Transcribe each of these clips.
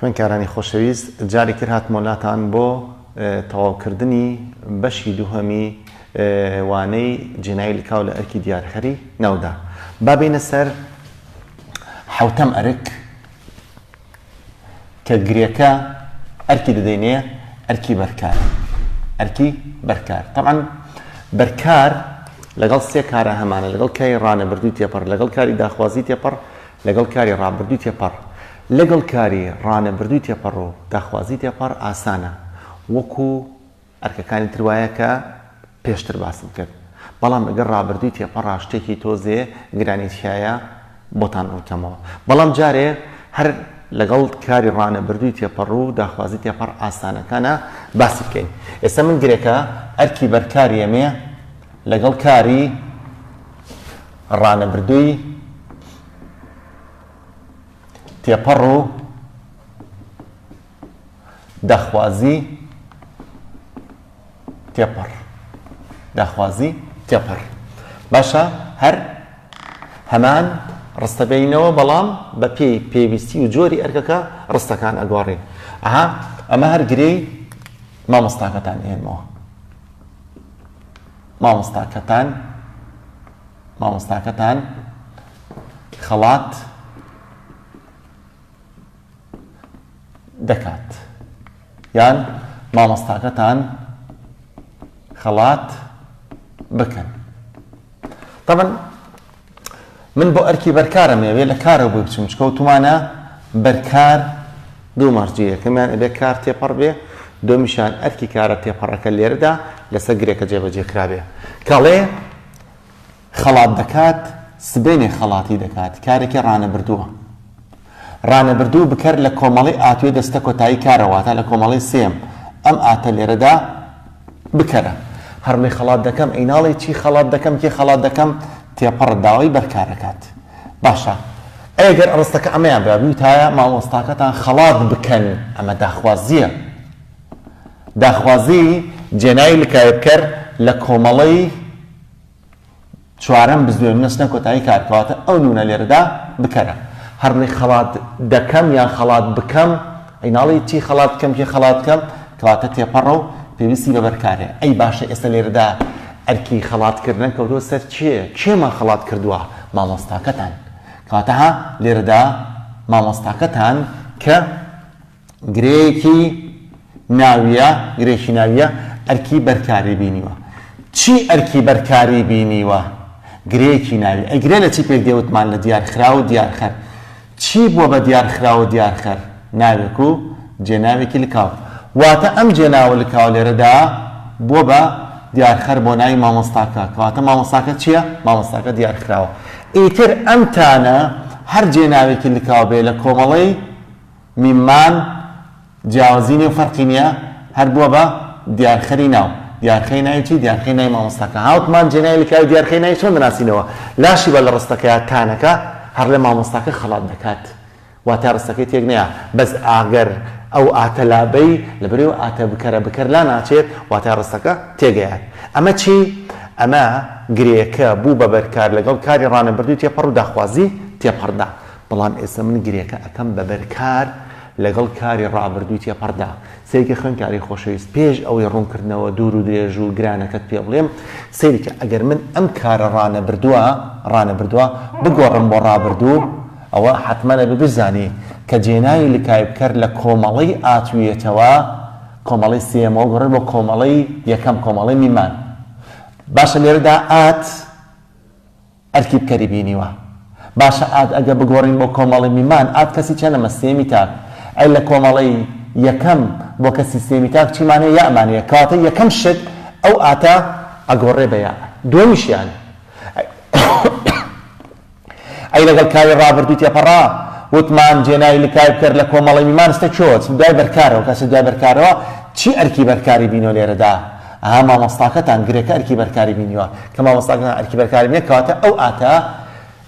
خوێنکارانی خۆشەویست جاری تر هاتمۆ لاتان بۆ تەواوکردنی بەشی دووهەمی وانەی جێنایی لکاو لە ئەرکی دیارخەری ناودا بابینە سەر حوتەم ئەرک کە گرێکە ئەرکی دەدەینێ ئەرکی بەرکار ئەرکی بەرکار تەعەن بەرکار لەگەڵ سێ کارە هەمانە لەگەڵ کاری ڕانەبردووی تێپەڕ لەگەڵ کاری داخوازی تێپەڕ لەگەڵ کاری ڕابردووی تێپەڕ لەگەڵ کاری ڕانەبردووی تێپەڕ و داخوازی تێپەڕ ئاسانە وەکو ئەرکەکانی تر وایە کە پێشتر باسم کرد، بەڵام لەگەڵ ڕابردووی تێپەڕا شتێکی تۆزێ گرانی تیایە بۆتان ڕوونکەمەوە. بەڵام جارێ هەر لەگەڵ کاری ڕانەبردووی تێپەڕو داخوازی تێپەڕ ئاسانەکانە باسی بکەین. ئێستا من گرێکە ئەرکی بەرکاریەمێ لەگەڵ کاری ڕانەبردووی تێپەڕو. داخوازی تێپەڕ داخوازی تێپەڕ باشە هەر هەمان ڕستە بینەوە بەڵام بە پێی پێویستی و جۆری ئەرکەکە ڕستەکان ئەگۆڕین ئەها ئەمە هەر گرێی مامۆستاکەتان ئێنمەوە مامۆستاکەتان مامۆستاکەتان خەڵات دەکات یان مامۆستاکەتان خەڵات بکەن تەبن من بۆ ئەرکی بەرکارم ئەوێ لە کارە بۆی بچم چکەوتمانە بەرکار دوو مەرجی یەکەمیان ئەبێ کار تێپەڕ بێ دۆمیشان ئەرکی کارە تێپەڕەکە لێرەدا لەسەر گرێکە جێبەجێ کرابێ کاڵێ خەڵات دەکات سبەینێ خەڵاتی دەکات کارێکی ڕانەبردووە ڕانەبردوو بکەر لە کۆمەڵەی ئاتوێ دەستە کۆتایی کارە واتا لە کۆمەڵەی سێیەم ئەم ئاتە لێرەدا بکەرە هەڕمێ خەڵات دەکەم ئەی ناڵێ چی خەڵات دەکەم کێ خەڵات دەکەم تێپەڕ داوای بەرکارەکات باشە ئەگەر ئەڕستەکە ئەمەیان بە بوتایە مامۆستاکەتان خەڵات بکەن ئەمە داخوازیە داخوازی جێناوی لکایە بکەر لە کۆمەڵەی چوارەم بزوێن نوسنە کۆتایی کار کەواتە ئەو نونە لێرەدا بکەرە. هەربڵێی خەڵات دەکەم یان خەڵات بکەم ئەی ناڵێی چی خەڵات بکەم کێ خەڵات بکەم کەواتە تێپەڕە و پێویستی بە بەرکارێ ئەی باشە ئێستا لێرەدا ئەرکی خەڵات کردنە کەوتوە سەر کێ کێمان خەڵات کردووە مامۆستاکەتان کەواتە ها لێرەدا مامۆستاکەتان کە گرێیەکی ناوییە، گرێکی ناوییە ئەرکی بەرکاری بینیوە. چی ئەرکی بەرکاری بینیوە؟ گرێکی ناوی. ئەی گرێ لە چی پێک دێ وتمان لە دیارخراو و دیارخەر. چی بووە بە دیارخراو و دیارخەر؟ ناوێک و جێناوێکی لکاو. واتە ئەم جێناوە لکاوە لێرەدا بووە بە دیارخەر بۆ ناوی مامۆستاکە. کەواتە مامۆستاکە چییە؟ مامۆستاکە دیارخراوە. ئیتر ئەم تانە هەر جێناوێکی لکاو بێ لە کۆمەڵەی میم مان جیاوازی نیە و فەرقی نیە هەر بووە بە دیارخەری ناو دیارخەی ناوی چی دیارخەی ناوی مامۆستاکە هاوک مان جێناوی لکاوی دیارخەی ناوی چۆن دەناسینەوە لاشی بە لە ڕستەکە یا تانەکە هەڕلێ مامۆستاکە خەڵات دەکات واتا ڕستەکەی تێک نەیا بەس ئاگەر ئەو ئاتە لابەی لە بەرێو ئاتە بکەرە بکەر لا ناچێت واتا ڕستەکە تێگەیان ئەمە چی ئەمە گرێکە بوو بە بەرکار لەگەڵ کاری ڕانەبردووی تێپەڕ و داخوازی تێپەڕدا بەڵام ئێستا من گرێکە ئەکەم بەبەر کار لەگەڵ کاری ڕابردووی تێپەڕدا. سەیرکە خوێندکاری خۆشەویست، پێش ئەوەی ڕوونکردنەوە دوور و درێژ و گرانەکەت پێ بڵێم، سەیرکە ئەگەر من ئەم کارە ڕانەبردووە، ڕانەبردووە، بگۆڕم بۆ ڕابردوو، ئەوە حەتمەن ئەبێ بشزانی کە جێناوی لکایبکەر لە کۆمەڵەی ئاتوویەتەوە، کۆمەڵەی سێیەمەوە گۆڕێت بۆ کۆمەڵەی یەکەم، کۆمەڵەی میمان. باشە لێرەدا ئات. ئەرکی بکەری بینیوە باشە ئاد ئەگە بگۆرین بۆ کۆمەڵی میمان ئاد کەسی چەنەمە سێمی تاک ئەی لە کۆمەڵی یەکەم بۆ کەسی سێمی تاک چیمان هەیە یەئمان هەیە کەواتە یەکەم شت ئەو ئاتە ئەگۆرێ بە یە دوەمیشیان ئەی لەگەڵ کاری ڕابردوو تێپەڕا وتمان جێنای لکای بکەر لە کۆمەڵی میمان ستە چۆچ دوای بەرکارەوە کەسە دوای بەرکارەوە چی ئەرکی بەرکاری بینۆ لێرەدا ئەها مامۆستاکەتان گرێکە ئەرکی بەرکاری بینیوە کە مامۆستاکەتان ئەرکی بەرکاری بینێ کەواتە ئەو ئاتە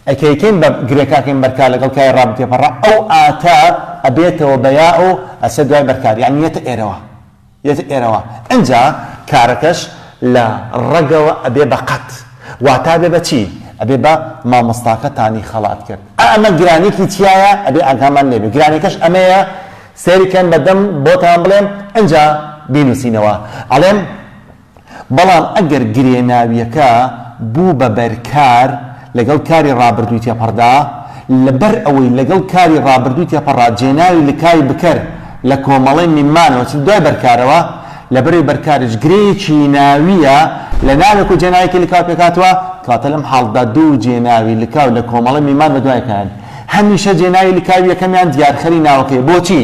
ئەکەیکەین بە گرێکاکەین بەرکار لەگەڵ کای ڕا بتێپەڕا ئەو ئاتە ئەبێتەوە بە یا و ئەچێ دوای بەرکار یانی یەتە ئێرەوە یەتە ئێرەوە ئەنجا کارەکەش لە ڕەگەوە ئەبێ بە قەت واتا بێ بە چی ئەبێ بە مامۆستاکەتانی خەڵات کرد ئەمە گرانێکی تایە ئەبێ ئاگامان لێبێ گرانەکەش ئەمەیە سەیری کەن بە دەم بۆتان بڵێم ئنجا بینوسینەوە ئەڵێم بەڵام ئەگەر گرێ ناویەکە بوو بە بەر کار لەگەڵ کاری ڕابردووی تێپەڕدا لە بەر ئەوەی لەگەڵ کاری ڕابردووی تێپەڕا جێناوی لکای بکەر لە کۆمەڵەی میمانەوە چ دوای بەرکارەوە لە بەرەی بەرکاریش گرێیەکی ناویە لە ناوێک و جێناوێکی لکاو پێکاتوە کاتە لەم حاڵدا دوو جێناوی لکاو لە کۆمەڵەی میمان بە دوای کەن هەمیشە جێناوی لکاوی یەکەمیان دیارخەری ناوەکەیە. بۆچی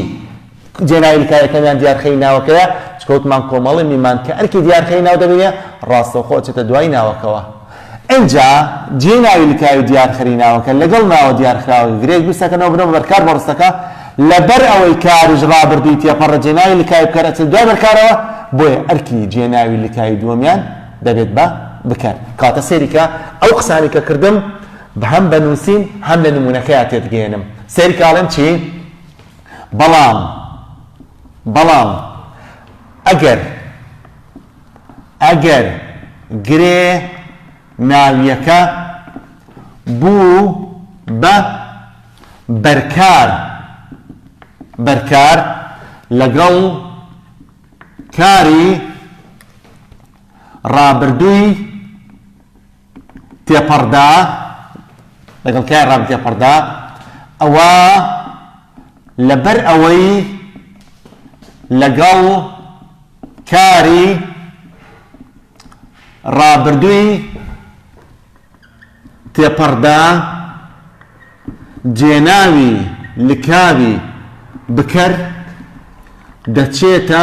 جێناوی لکاوی یەکەمیان دیارخەری ناوەکەیە؟ چونکە وتمان کۆمەڵی میمان کە ئەرکی دیارخەری ناو دەبینێ، ڕاستەوخۆ ئەچێتە دوای ناوەکەوە. ئینجا جێناوی لکاوی دیارخەری ناوەکە لەگەڵ ناوە دیارخراوەکە گرێ گوستەکەنەوە بنەوە بەر کار بەڕستەکە. لەبەر ئەوەی کاریش ڕابردووی تێپەڕە جێناوی لکاوی بکەر ئەچێتە دوای بەرکارەوە، بۆیە ئەرکی جێناوی لکاوی دووەمیان دەبێت بە بکەر. کەواتە سەیری کە ئەو قسانەی کە کردم، هەم بە نووسین هەم لە نموونەکەیا تێدگەیەنم سەیرکە ئەڵێم چی؟ بەڵام بەڵام ئەگەر ئەگەر گرێ ناویەکە بوو بە بەرکار بەرکار لەگەڵ کاری ڕابردووی تێپەڕدا لەگەڵ کای ڕام تێپەڕدا ئەوە لەبەر ئەوەی لەگەڵ کاری ڕابردووی تێپەڕدا جێناوی لکاوی بکەر دەچێتە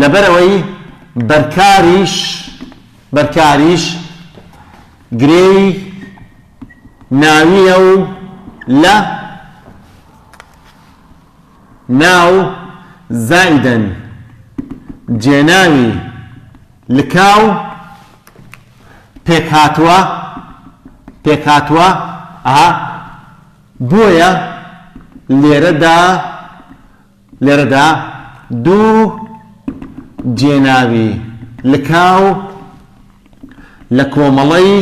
لەبەرئەوەی بەرکاریش بەرکاریش گرێی ناوییە و لە ناو زائیدەن جێناوی لکاو پێکهاتووە پێکهاتووە ئەها بۆیە لێرەدا لێرەدا دوو جێناوی لکاو لە کۆمەڵەی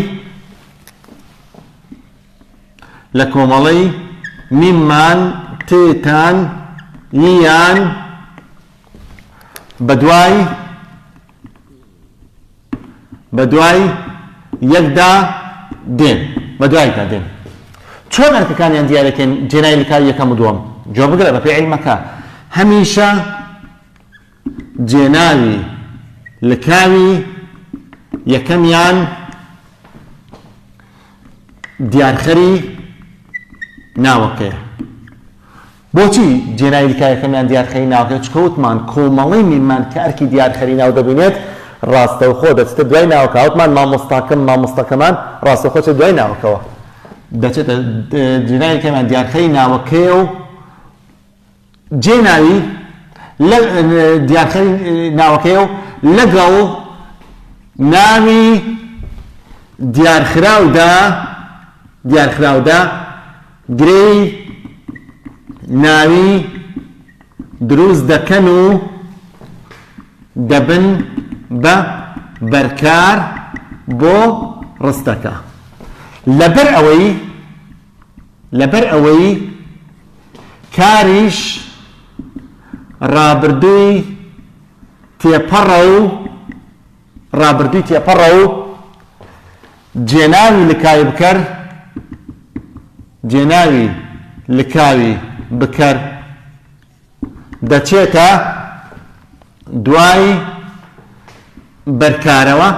لە کۆمەڵەی میمان تێتان یان بەدوای بە دوای یەکدا دێن بە دوایدا دێن چۆن ئەرکەکانیان دیارەکەن جێنای لکاو یەکەم و دووەم جۆ بگرە بە پێ عیلمەکە هەمیشە جێناوی لکاوی یەکەمیان دیارخەری ناوەکەیە بۆچی جێناوی لکایەکەمیان دیارخەری ناوەکە چکە وتمان کۆمەڵەی میممان کە ئەرکی دیارخەری ناو دەبینێت ڕاستەوخۆ دەچتە دوای ناوەکە وتمان مامۆستاکەم مامۆستەکەمان ڕاستەوخۆ چە دوای ناوەکەوە دەچێتە جێناوی کەمیان دیارخەری ناوەکەیە و جێناوی دیارخەری ناوەکەیە و لەگەڵ ناوی دیارخراودا دیارخراودا گرێی ناوی دروست دەکەن و دەبن بە بەرکار بۆ ڕستەکە لەبەر ئەوەی لەبەر ئەوەی کاریش ڕابردووی تێپەڕە و ڕابردووی تێپەڕە و جێناوی لکاوی بکەر جێناوی لکاوی بکەر دەچێتە دوای بەرکارەوە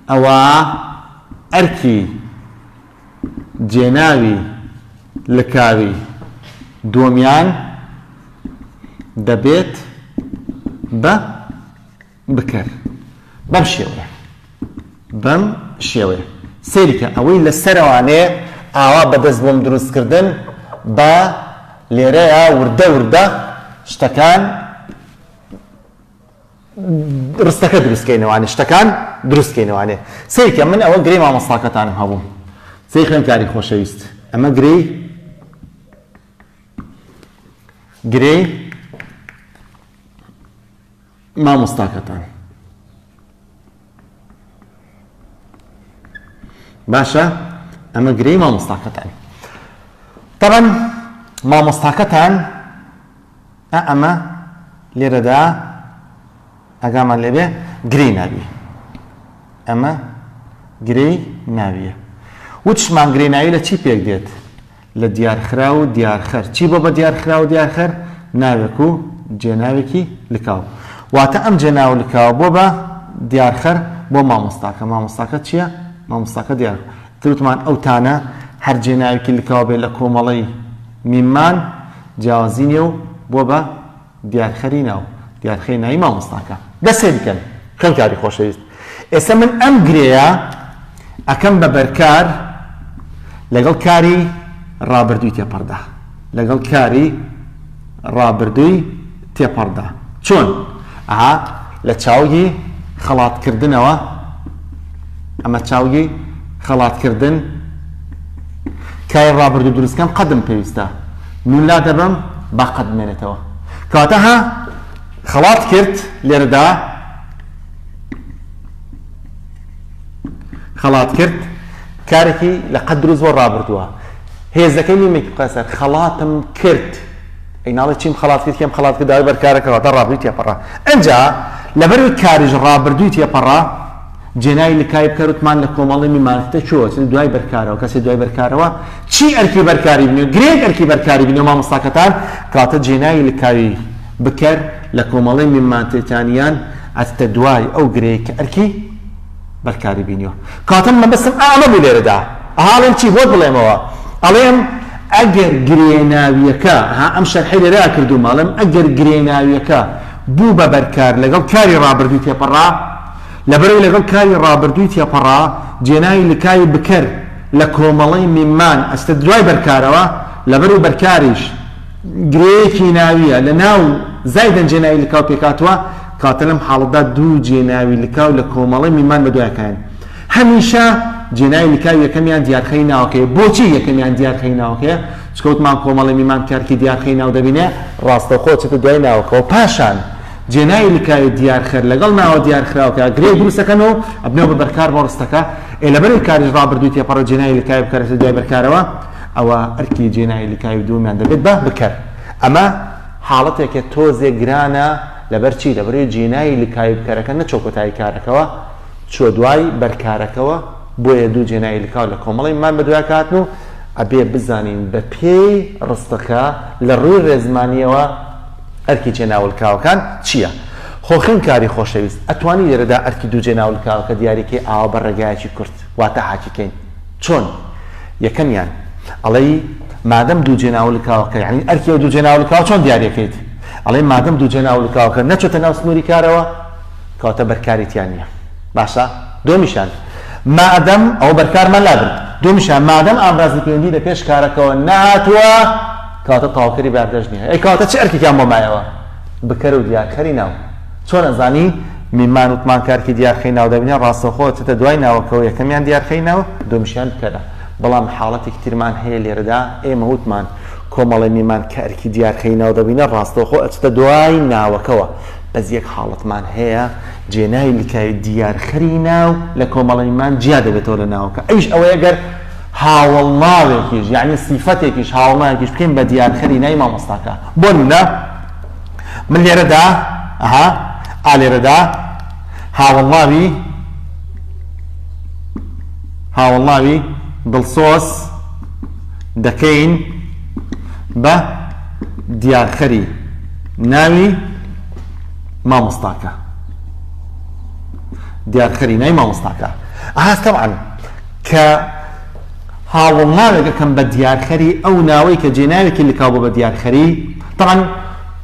ئەوە ئەرکی جێناوی لکاوی دووەمیان دەبێت بە بکەر بەم شێوەیە بەم شێوەیە سەیرکە ئەوەی لە سەرەوانێ ئاوا بەدەست بۆم دروستکردن بە لێرەیە وردە وردە شتەکان ڕستەکە دروستکەینەوانێ شتەکان دروستکەینەوانێ سەیرکە من ئەوە گرێ مامەساکەتانم هەبوو سەی خوێنکاری خۆشەویست ئەمە گرێ گرێ مامۆستاکەتان باشە ئەمە گرێی مامۆستاکەتان تەبەن مامۆستاکەتان ئەمە لێرەدا ئەگامان لێبێ گرێی ناوی ئەمە گرێی ناویە وتشمان گرێ ناوی لە چی پێک دێت لە دیارخراو و دیارخەر چی بۆ بە دیارخراو و دیارخەر ناوێک و جێناوێکی لکاو واتە ئەم جێناو و لکاوە بۆ بە دیارخەر بۆ مامۆستاکە مامۆستاکە چییە مامۆستاکە دیار تروتمان ئەو تانە هەر جێناوێکی لکاو بێ لە کۆمەڵەی میمان جیاوازی نیە و بۆ بە دیارخەری ناو دیارخەی ناوی مامۆستاکە دەست خێری کەن خوێندکاری خۆشەویست ئێستا من ئەم گرێیە ئەکەم بە بەرکار لەگەڵ کاری ڕابردووی تێپەڕدا لەگەڵ کاری ڕابردووی تێپەڕدا چۆن ئەها لە چاوگی خەڵاتکردنەوە ئەمە چاوگی خەڵاتکردن کاری ڕابردوو دروستکەم قەدم پێویستە نون لادەبەم با قەت بمێنێتەوە کەواتە ها خەڵات کرد لێرەدا خەڵات کرد کارێکی لە قەت دروست بۆ ڕابردووە هێزەکەی نیمێکی بخە سەر خەڵاتم کرد ئەی ناڵێ چیم خەڵات کرد کێم خەڵات کرد داوای بەرکارەکەەوە تا ڕابردووی تێپەڕا ئەجا لەبەروی کاریش ڕابردووی تێپەڕا جێناوی لکای بکە رتمان لە کۆمەڵی می مارکتە چۆ چ دوای بەرکارەوە کەسێ دوای بەرکارەوە چی ئەرکی بەرکاری بنێ گرێگ ئەرکی بەرکاری بنێ مامۆستاکەتان کاتە جێناوی لکاوی بکەر لە کۆمەڵی می مانتێتان یان ئەچتە دوای ئەو گرێ کە ئەرکی بەرکاری بینیوە کاتە مەبەستم ئامە بوو لێرەدا ئەهاڵێم چی بۆت بڵێمەوە ئەڵێم ئەگەر گرێناویەکە ها ئەم شەرحی لێرە کردو ماڵم ئەگەر گرێناویەکە بوو بە بەرکار لەگەڵ کاری رابردووی تێپەڕا لەبەرەی لەگەڵ کاری ڕابردووی تێپەڕا، جێناوی لکاوی بکەر لە کۆمەڵەی میمان ئەستە دوای بەرکارەوە، لەبەرەی بەرکاریش گرێیەکی ناوییە لە ناو زایدەن جێناوی لکاو پێکهاتووە، کەواتە لەم حاڵەتدا دوو جێناوی لکاو لە کۆمەڵەی میمان بەدوای کایەن. هەمیشە جێناوی لکاو یەکەمیان دیارخەی ناوەکەیە. بۆچی یەکەمیان دیارخەی ناوەکەیە؟ چونکە وتمان کۆمەڵەی میمان کەرتی دیارخەی ناو دەبینێ، ڕاستەوخۆ ئەچێتە دوای ناوەکەوە، پاشان. جێناوی لکاوی دیارخەر لەگەڵ ناوە دیارخراوکە گرێ دروست دەکەن و ئەبنەوە بە بەرکار بۆ ڕستەکە، ئێ لەبەرەی کاریش ڕابردووی تێپەڕێت جێناوی لکاوی بکەرەسە دوای بەرکارەوە، ئەوا ئەرکی جێناوی لکاوی دووەمیان دەبێت بە بکەر. ئەمە حاڵەتێکە تۆزێک گرانە، لەبەر چی؟ لەبەرەوەی جێناوی لکاوی بکەرەکە نەچووە کۆتایی کارەکەوە، چووە دوای بەرکارەکەوە، بۆیە دوو جێناوی لکاو لە کۆمەڵەی مان بەدوایەکە هاتن و ئەبێ بزانین بەپێی ڕستەکە لە ڕووی ڕێزمانییەوە، ئەرکی جێناولکراوەکان چییە؟ خۆ خوێندکاری خۆشەویست، ئەتوانی لێرەدا ئەرکی دوو جێناولکراوەکە دیاری کەی ئاوا بە ڕێگایەکی کورت، واتە هاکیکەین. چۆن؟ یەکەمیان، ئەڵێی، مادەم دوو جێناولکراوەکە، یانی ئەرکی ئەو دوو جێناولکراوە چۆن دیاری ئەکەیت؟ ئەڵێی، مادەم دوو جێناولکراوەکە نەچۆتە ناو سنووری کارەوە، کەواتە بەرکاری تیا نییە. باشە؟ دووەمیشیان، مادەم، ئەوە بەرکارمان لابرد. دووەمیشیان، مادەم ئامرازی پەیوەندی لە پێش کارەکەوە نەهاتووە، کەواتە تەواوکەری باردەشت نیە ئەی کەواتە چ ئەرکێکیان بۆ مایەوە بکەرو دیارکەری ناو چۆن ئەزانی میمان وتمان کارکی دیارخەی ناو دەبینە ڕاستەوخۆ چەتە دوای ناوەکەوە یەکەمیان دیارخەی ناو دومیشیان بکەرە بەڵام حاڵەتێکی ترمان هەیە لێرەدا ئێمە وتمان کۆمەڵی میمان کە ئەرکی دیارخەی ناو دەبینە ڕاستەوخۆ ئەچتە دوای ناوەکەوە بەس یەک حاڵەتمان هەیە جێناوی لکاوی دیارخەری ناو لە کۆمەڵی میمان جیا دەبێتەوە لە ناوەکە ئەویش ئەوەیە گەر هاوەڵناوێکیش یەعنی سیفەتێکیش هاوەڵناوێکیش بکەین بە دیارخەری ناوی مامۆستاکە بۆ نمونە من لێرەدا ئەها ئا لێرەدا هاوەڵناوی هاوەڵناوی دڵسۆز دەکەین بە دیارخەری ناوی مامۆستاکە دیارخەری نای مامۆستاکە ئاستەوان کە هاوڵناوێک ئەکەم بە دیارخەری، ئەو ناوەی کە جێناوێکی لکاو بووە بە دیارخەری، تەبعەن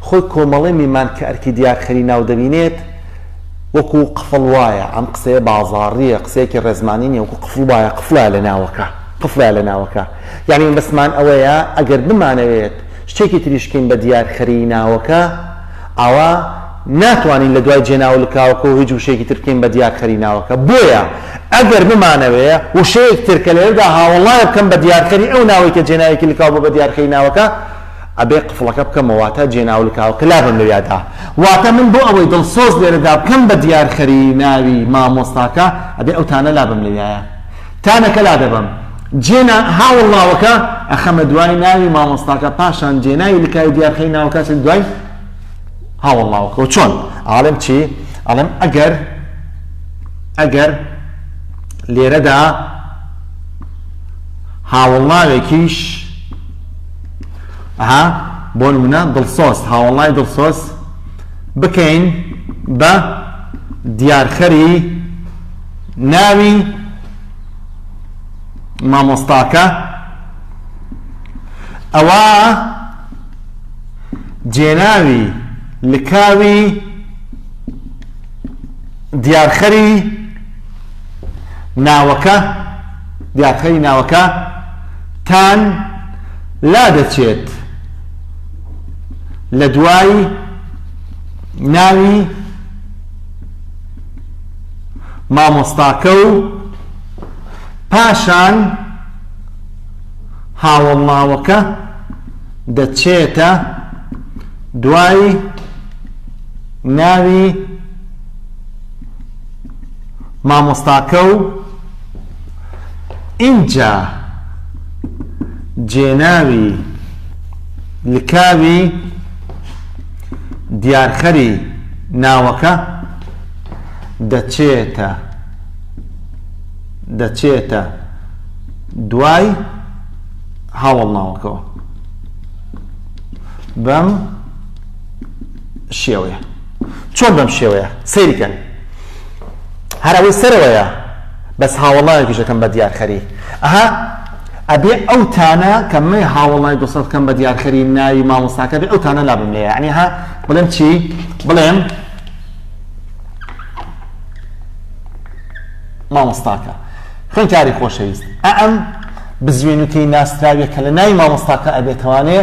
خۆی کۆمەڵەی میمان کە ئەرکی دیارخەری ناو دەبینێت وەکو قفڵ وایە، ئەم قسەیە بازاڕییە، قسەیەکی ڕێزمانی نییە، وەکو قفڵ وایە، قفڵە لە ناوەکە، قفڵە لە ناوەکە. یەعنی مەبەستمان ئەوەیە ئەگەر بمانەوێت شتێکی تریش بکەین بە دیارخەریی ناوەکە، ئەوا ناتوانین لە دوای جێناو و لکاوەکە و هیچ وشەیەکی تر بکەین بە دیارخەری ناوەکە. بۆیە ئەگەر بمانەوێ وشەیەک تر کە لێرەدا هاوەڵایە بکەم بە دیارخەری ئەو ناوەی کە جێناوێکی لکاو بووە بە دیارخەری ناوەکە، ئەبێ قفڵەکە بکەمەوە واتە جێناو و لکاوەکە لابەم لەویادا. واتە من بۆ ئەوەی دڵسۆز لێرەدا بکەم بە دیارخەری ناوی مامۆستاکە، ئەبێ ئەو تانە لابەم لەویایە. تانەکە لادەبەم جێنا هاوڵ ناوەکە ئەخەمە دوای ناوی مامۆستاکە پاشان جێناوی لکاوی دیارخەی ناوەکە چێت دوای هاوڵ ناوەکەەوە چۆن ئاڵم چی ئەڵم ئەگەر ئەگەر لێرەدا هاوڵناوێکیش ها بۆ نمونە دڵسۆز هاوڵنای دڵسۆز بکەین بە دیارخەری ناوی مامۆستاکە ئەوە جێناوی لکاوی دیارخەری ناوەکە دیارخەری ناوەکە تان لا دەچێت لە دوای ناوی مامۆستاکە و پاشان هاوەڵناوەکە دەچێتە دوای ناوی مامۆستاکە و ئینجا جێناوی لکاوی دیارخەری ناوەکە دەچێتە دەچێتە دوای هاوڵناوەکەەوە بەم شێوەیە چۆن بەم شێوەیە سەیرکەن هەرەوەی سەرەوەیە بەس هاوڵناوێکیشەکەم بە دیارخەری ئەها ئەبێ ئەو تانە کە من هاوڵای دوسەد کەم بە دیارخەری ناوی مامۆستاکە بێ ئەو تانە لابم لێ عنی ها بڵێم چی بڵێم مامۆستاکە خوێنکاری خۆشەویست ئەم بزوێنوتەی ناسراویە کە لە ناوی مامۆستاکە ئەبێتوانێ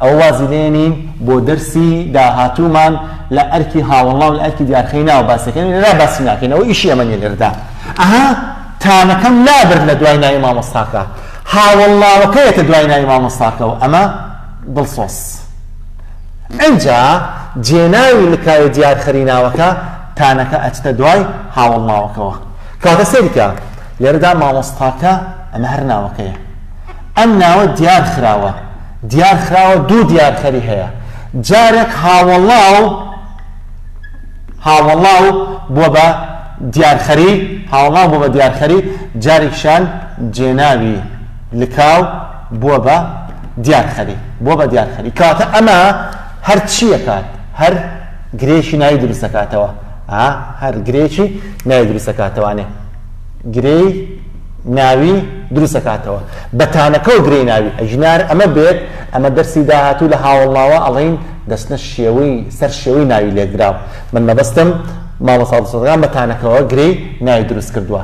ئەو وازی لێنین بۆ دەرسی داهاتوومان لە ئەرکی هاوڵناو لە ئەرکی دیارخەی ناو باسەکەن لەلا باسی ناکەینەوە ئیشی ئەمە لێردا ئەها تانەکەم لابرد لە دوای ناوی مامۆستاکە هاوڵناوەکەیەتە دوای ناوی مامۆستاکەەوە ئەمە دڵسۆس ئنجا جێناوی لکایە دیار خەری ناوەکە تانەکە ئەچتە دوای هاوەڵ ناوەکەوە کەواتە سەیری کە لێرەدا مامۆستاکە ئەمە هەر ناوەکەیە ئەم ناوە دیار خراوە دیار خراوە دوو دیار خەری هەیە جارێک هاوەڵاو هاوەڵاو بووە بە دیارخەری هاوڵاو بووە بە دیارخەری جارێکشان جێناوی لکاو بووە بە دیارخەری بووە بە دیارخەری کەواتە ئەمە هەر چی ئەکات هەر گرێکی ناوی دروست ئەکاتەوە ئا هەر گرێکی ناوی دروست ئەکاتەوانێ گرێی ناوی دروست ئەکاتەوە بە تانەکە و گرێی ناوی ئەژنار ئەمە بێت ئەمە دەرسی داهاتوو لە هاوەڵناوە ئەڵێین دەستنە شێوەی سەر شێوەی ناوی لێکدراو من مەبەستم مامۆستا دڵسۆزەکان بە تانەکەوە گرێی ناوی دروست کردووە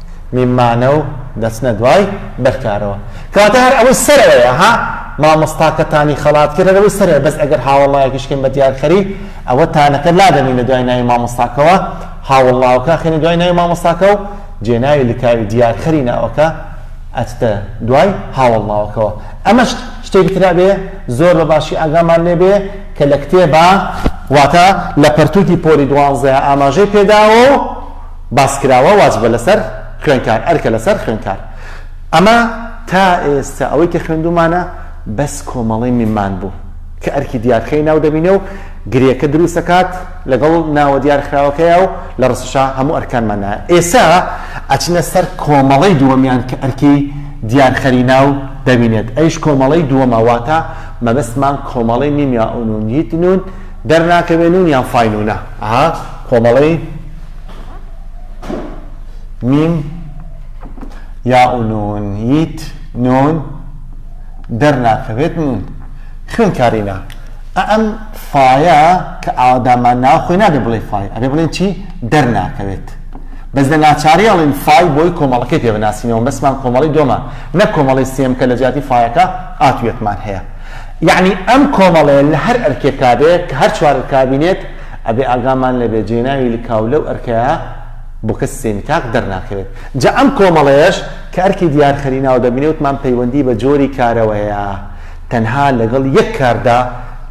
میمانەو دەچنە دوای بەرکارەوە کەواتە هەر ئەوەی سەرەوەیە ها مامۆستاکەتانی خەڵات کرد هەر ئەوەی سەرەوە بەس ئەگەر هاوەڵایەکیش کەین بە دیارخەری ئەوە تانەکە لادەنینە دوای ناوی مامۆستاکەوە هاوەڵاوەکە خێنە دوای ناوی مامۆستاکە و جێناوی لکاوی دیارخەری ناوەکە ئەچتە دوای هاوەڵاوەکەوە ئەمەش شتێک ترا بێ زۆر بە باشی ئاگامان لێ بێ کە لە کتێبە واتە لە پەرتووکی پۆلی دوانزەیە ئاماژەی پێداوە و باسکراوە واجبە لەسەر خوێنکار ئەرکە لەسەر خوێنکار ئەمە تا ئێستا ئەوەی کە خوێندومانە بەس کۆمەڵەی میمان بوو کە ئەرکی دیارخەی ناو دەبینێ و گرێکە دروست ئەکات لەگەڵ ناوە دیارخراوەکەیا و لە ڕستشا هەموو ئەرکانمان نایە ئێستا ئەچنە سەر کۆمەڵەی دووەمیان کە ئەرکی دیارخەری ناو دەبینێت ئەویش کۆمەڵەی دووەمە واتە مەبەستمان کۆمەڵەی میم یا ئونون یت نون دەرناکەوێ نون یان فای نونە ئەها کۆمەڵەی میم یا و نون یت نون دەرناکەوێت نون خوێنکارینە ئەم فایە کە ئاوادامان ناو خۆی نابێ بڵێ فای ئەبێ بڵێن چی دەرناکەوێت بەس لە ناچاری ئەڵین فای بۆی کۆمەڵەکەی پێ بناسینەوە بەسمان کۆمەڵی دۆمان نە کۆمەڵی سێم کە لە جیاتی فایەکە ئاتوێکمان هەیە یەعنی ئەم کۆمەڵەیە لە هەر ئەرکێکا بێ کە هەر چوار ئەرکا بینێت ئەبێ ئاگامان لێ بێ جێناوی لکاو لەو ئەرکەیا بووکە سیستێمی تاک دەرناکەوێت جا ئەم کۆمەڵەیەش کە ئەرکی دیار خەری ناو دەبینێ وتمان پەیوەندی بە جۆری کارەوە هەیە تەنها لەگەڵ یەک کاردا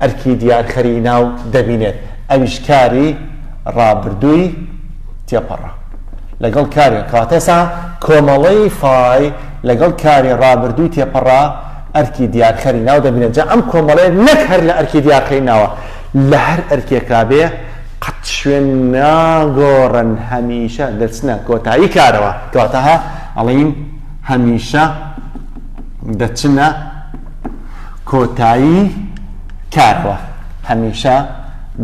ئەرکی دیار خەری ناو دەبینێت ئەویش کاری ڕابردووی تێپەڕە لەگەڵ کاری کەواتە ئێسا کۆمەڵەی فای لەگەڵ کاری ڕابردووی تێپەڕە ئەرکی دیارخەری ناو دەبینێت جا ئەم کۆمەڵەیە نەک هەر لە ئەرکی دیارخەری ناوە لە هەر ئەرکێکا بێ قەت شوێن ناگۆڕن هەمیشە دەچنە کۆتایی کارەوە کەواتە هە ئەڵین هەمیشە دەچنە کۆتایی کارەوە هەمیشە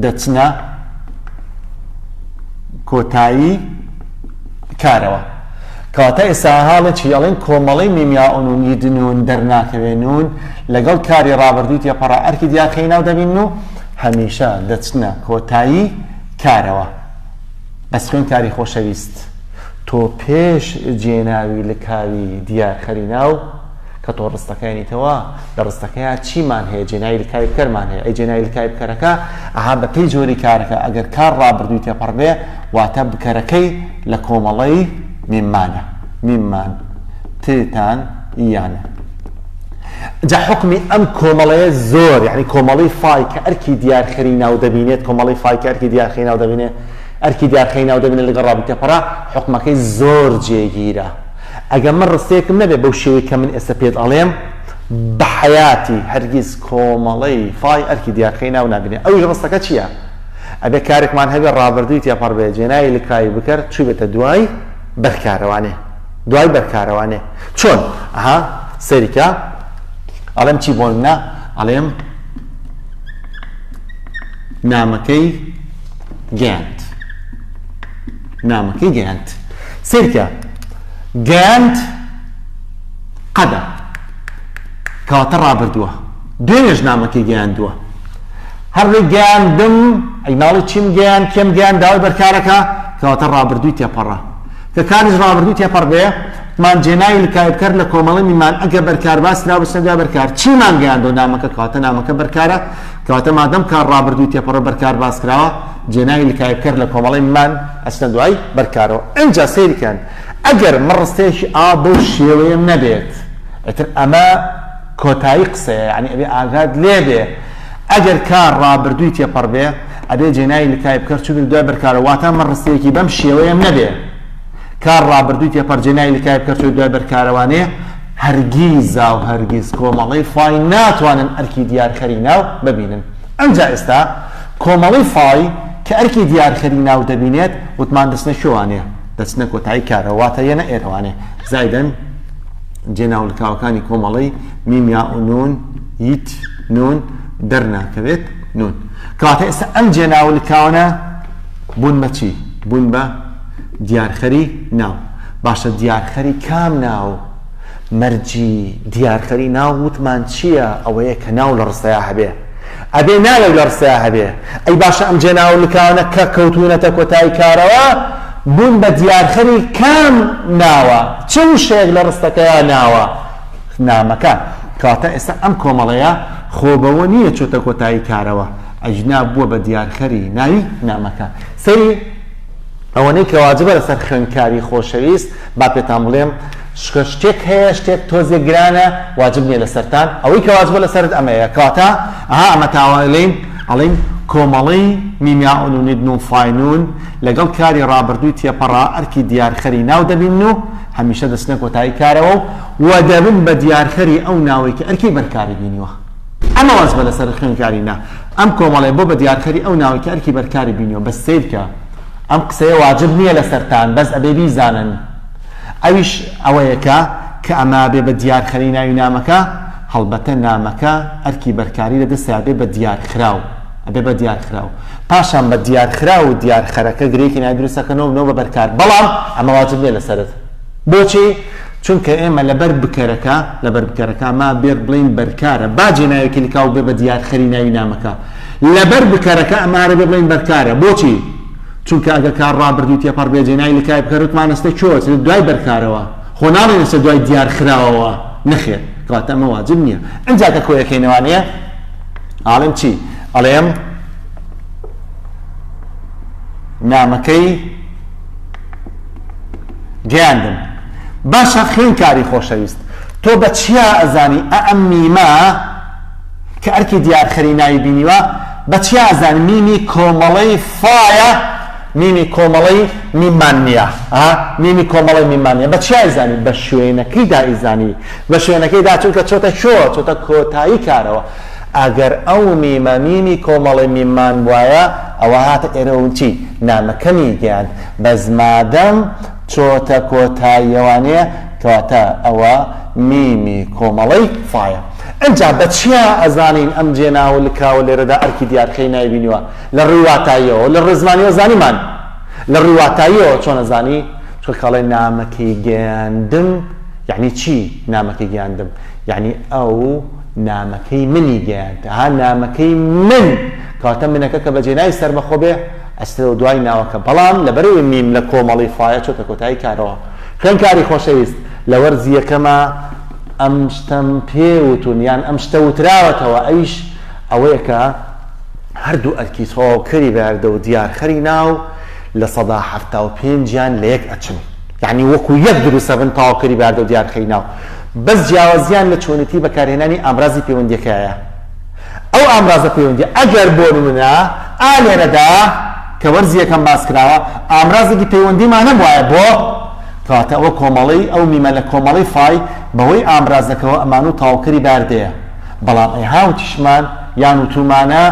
دەچنە کۆتایی کارەوە کەواتە ئێسا هاڵێ چی ئەڵێن کۆمەڵەی میمیاونون یدنون دەرناکەوێنون لەگەڵ کاری ڕابردووی تێپەڕە ئەرکی دیاخەی ناو دەبین و هەمیشە دەچنە کۆتایی کارەوە بەس خوێن کاری خۆشەویست تۆ پێش جێناوی لکاوی دیارخەری ناو کە تۆ ڕستەکەیانیتەوە لە ڕستەکەیا چیمان هەیە جێناوی لکاوی بکەرمان هەیە ئەی جێناوی لکاوی بکەرەکە ئەها بە پێی جۆری کارەکە ئەگەر کار ڕابردووی تێپەڕ بێ واتە بکەرەکەی لە کۆمەڵەی میممانە میممان تێتان یانە جا حکمی ئەم کۆمەڵەیە زۆر یعنی کۆمەڵی فای کە ئەرکی دیارخەری ناو دەبینێت کۆمەڵی فای کە ئەرکی دیارخەی ناو دەبینێت ئەرکی دیارخەی ناو دەبینێت لەگەڵ ڕابی تێپەڕا حکومەکەی زۆر جێگیرە ئەگەر من ڕستەیەکم نەبێ بەو شێوەی کە من ئێستا پێت ئەڵێم، بە حەیاتی هەرگیز کۆمەڵەی فای ئەرکی دیارکەی ناو نابینێ. ئەویش ڕستەکە چییە؟ ئەبێ کارێکمان هەبێ ڕابردووی تێپەڕ بێ، جێناوی لکاوی بکەر چووبێتە دوای بەرکارەوانێ. دوای بەرکارەوانێ. چۆن؟ ئەها سەیری کە. ئەڵێم چی بۆ نمونە؟ ئەڵێم نامەکەی گەیاند. نامەکەی گەیاند. سەیرکە، گەیاند قەدە، کەواتە ڕابردووە. دوێنێش نامەکەی گەیاندووە. هەر لێی گەیاندم، ئەی ناڵێی چیم گەیاند، کێم گەیاند، داوای بەرکارەکە، کەواتە ڕابردووی تێپەڕە. کە کاریش ڕابردووی تێپەڕبێ، مان جێناوی لکایبکەر لە کۆمەڵەی میمان ئەگە بەرکارباس کرابچنە دوای بەرکار، چیمان گەیاندووە نامەکە، کەواتە نامەکە بەرکارە. کەواتە مادەم کار ڕابردووی تێپەڕو بەر کار باس کراوە جێناوی لکایب کەر لە کۆمەڵەی مان ئەچنە دوای بەر کارەوە ئینجا سەیری کەن ئەگەر من ڕستەیەکی ئا بەو شێوەیەم نەبێت ئیتر ئەمە کۆتایی قسەیە یانی ئەبێ ئاگات لێ بێ ئەگەر کار ڕابردووی تێپەڕ بێ ئەبێ جێناوی لکایب کەر چونی دوای بەر کارە واتە من ڕستەیەکی بەم شێوەیەم نەبێ کار ڕابردووی تێپەڕ جێناوی لکایب کەر چۆی دوای بەر کارەوانێ هەرگیزاو هەرگیز کۆمەڵەی فای ناتوانن ئەرکی دیارکەری ناو ببینن. ئەنجا ئێستا کۆمەڵەی فای کە ئەرکی دیارکەری ناو دەبینێت وتمان دەچنە کوێوانێ؟ دەچنە کۆتایی کارەوە واتە یەنە ئێرەوانێ زایدەن جێ ناولکاوەکانی کۆمەڵەی، میم یاء نون، یت، نون، دەرناکەوێت، نون. کەواتە ئێستا ئەم جێ ناولکاوانە بوون بە چی؟ بوون بە دیارکەری ناو. باشە دیارخەری کام ناو؟ مەرجی دیارخەری ناو وتمان چیە ئەوەیە کە ناو لە ڕستەیا هەبێ ئەبێ ناوێک لە ڕستەیا هەبێ ئەی باشە ئەم جێناوە لکاوەنە کە کەوتوونەتە کۆتایی کارەوە بوون بە دیارخەری کام ناوە چ وشەیەک لە ڕستەکەیا ناوە نامەکە کەواتە ئێستا ئەم کۆمەڵەیە خۆ بەوە نییە چۆتە کۆتایی کارەوە ئەجنا بووە بە دیارخەری ناوی نامەکە سەری ئەوەنەی کە واجبە لەسەر خوێندکاری خۆشەویست با پێتان بڵێم شتێک هەیە شتێک تۆزێک گرانە واجب نیە لەسەرتان ئەوەی کە واجبە لەسەرت ئەمەیە کەواتە ئەها ئەمە تاوەلین ئەڵین کۆمەڵەی میمیاون و نیدن و فاینون لەگەڵ کاری ڕابردووی تێپەڕا ئەرکی دیارخەری ناو دەبین و هەمیشە دەچنە کۆتایی کارەوە و دەبن بە دیارخەری ئەو ناوەی کە ئەرکی بەرکاری بینیوە. ئەمە واز بە لەسەر خوێندکاری نا ئەم کۆمەڵەیە بۆ بە دیارکەری ئەو ناوەی کە ئەرکی بەرکاری بینیوە بەس سەیرکە ئەم قسەیە واجب نییە لەسەرتان بەس ئەبێ بیزانن ئەویش ئەوەیە کە کە ئەمە بێ بە دیارخەری ناوی نامەکە هەڵبەتە نامەکە ئەرکی بەرکاری لە دەستە بێ بە دیارخراو ئەبێ بە دیارخراو پاشان بە دیارخراو و دیارخەرەکە گرێکی نای دروستەکەنەوە نەوە بە بەرکار بەڵام ئەمە واجب نییە لەسەرت بۆچی؟ چونکە ئێمە لەبەر بکەرەکە، لەبەر بکەرەکە، ما بێت بڵێین بەرکارە، با جێناوێکی لکاو بێ بە دیارخەری ناوی نامەکە. لەبەر بکەرەکە ئەمارە بێ بڵێین بەرکارە. بۆچی؟ چونکە ئەگەر کار ڕابردووی تێپەڕ بێ جێناوی لکای بکەر وتمانەستە کوێوە چرێت دوای بەرکارەوە. خۆ ناڵێینەسە دوای دیارخراوەوە. نەخێر. کەواتە ئەمە واجب نییە. ئینجا کە کۆیەکەینەوە ئەڵێ، ئاڵێم چی؟ ئەڵێم نامەکەی. گەیاندن باشە خوێنکاری خۆشەویست تۆ بە چیا ئەزانی ئە ئەم میمە کە ئەرکی دیارخەری ناوی بینیوە بە چیا ئەزانی میمی کۆمەڵەی فایە میمی کۆمەڵەی میمان نییە میمی کۆمەڵی میمان نیە بە چیای زانی بە شوێنەکەی دائیزانی بە شوێنەکەی دا چونکە چۆتە شۆ چۆتە کۆتایی کارەوە ئەگەر ئەو میمە میمی کۆمەڵەی میممان بوایە ئەوە هاتە ئێرە و چی نامەکەمی گەیاند بەس مادەم چۆتە کۆتاییەوانەیە کەواتە ئەوە میمی کۆمەڵەی فایە ئەنجا بەچیا ئەزانین ئەم جێناو و لکاوە لێرەدا ئەرکی دیار کەی نایبینیوە لە ڕووی واتاییەوە لە ڕووی زمانیەوە زانیمان لە ڕووی واتاییەوە چۆن ئەزانی چونکە ئەڵێ نامەکەی گەیاندم یەعنی چی نامەکەی گەیاندم یەعنی ئەو نامەکەی منی گەیاند ها نامەکەی من کەواتە منەکە کە بەجێ ناوی سەربەخۆ بێ ئەچتەوە دوای ناوەکە بەڵام لەبەرەوەی میم لە کۆمەڵەی فایە چۆتە کۆتایی کارەوە خوێندکاری خۆشەویست لە وەرزی یەکەما ئەم شتەم پێ وتون یان ئەم شتە وتراوەتەوە ئەویش ئەوەیە کە هەردوو ئەرکی تەواوکەری بەردە و دیارخەری ناو لە سەدا حەفتا و پێنجیان لە یەک ئەچن یانی وەکو یەک دروست ئەبن تەواوکەری بەهەردەو دیارخەری ناو بەس جیاوازیان لە چۆنێتی بەکارهێنانی ئامرازی پەیوەندیەکەیە ئەو ئامرازە پەیوەندیە ئەگەر بۆ نمونە ئا لێرەدا کە وەرزی یەکەم باس کراوە ئامرازێکی پەیوەندیمان نەبوایە بۆ کەواتە ئەوە کۆمەڵەی ئەو میمە لە کۆمەڵەی فای بەهۆی ئامرازەکەوە ئەمانوو تەواوکەری بەهەردەیە بەڵام ئەی هاوتیشمان یان وتومانە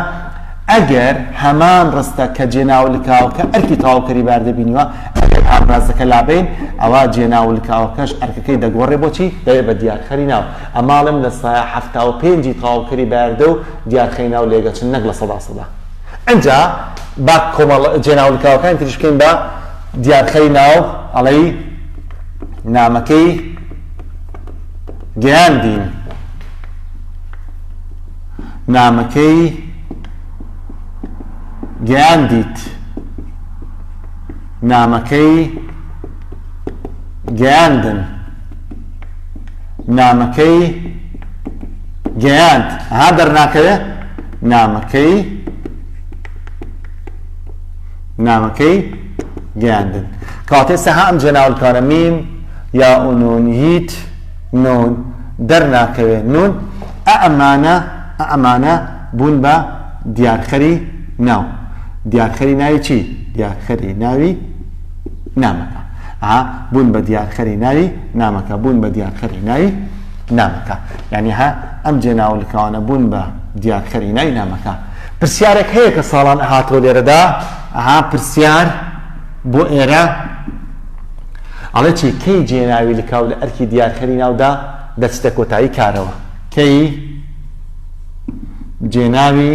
ئەگەر هەمان ڕستە کە جێناوە لکاوەکە ئەرکی تەواوکەری بەهەردە بینیوە ئەگەر پاردازەکە لابەین ئەوا جێناولکاوەکەش ئەرکەکەی دەگۆڕێ بۆچی دەبێ بە دیارخەری ناو ئەماڵێم لە سایە حەفتا و پێنج ی تەواوکەری بایردە و دیارخەی ناو لێگەچن نەک لە سەدا سەدا ئنجا با کۆمەڵ جێناولکاوەکانی تریش بکەین بە دیارخەری ناو ئەڵێی نامەکەی گەیاندین نامەکەی گەیاندیت نامەکەی گەیاندن نامەکەی گەیاند ها دەرناکەوێ نامەکەی نامەکەی گەیاندن کاتێ سەها ئەم جێناولکارە میم یا ئونون هیت نون دەرناکەوێ نون ئەمانە ئەمانە بوون بە دیارخەری ناو دیارخەری ناوی چی دیارخەری ناوی نامەکە ها بوون بە دیارخەری ناوی نامەکە بوون بە دیارخەری ناوی نامەکە یعنی ها ئەم جێناولکەوانە بوون بە دیارخەری ناوی نامەکە پرسیارێک هەیە کە ساڵان هاتۆ لێرەدا ئەها پرسیار بۆ ئێرە ئەڵێ چی کەی جێناوی لکاو لە ئەرکی دیارخەری ناودا دەچتە کۆتایی کارەوە کەی جێناوی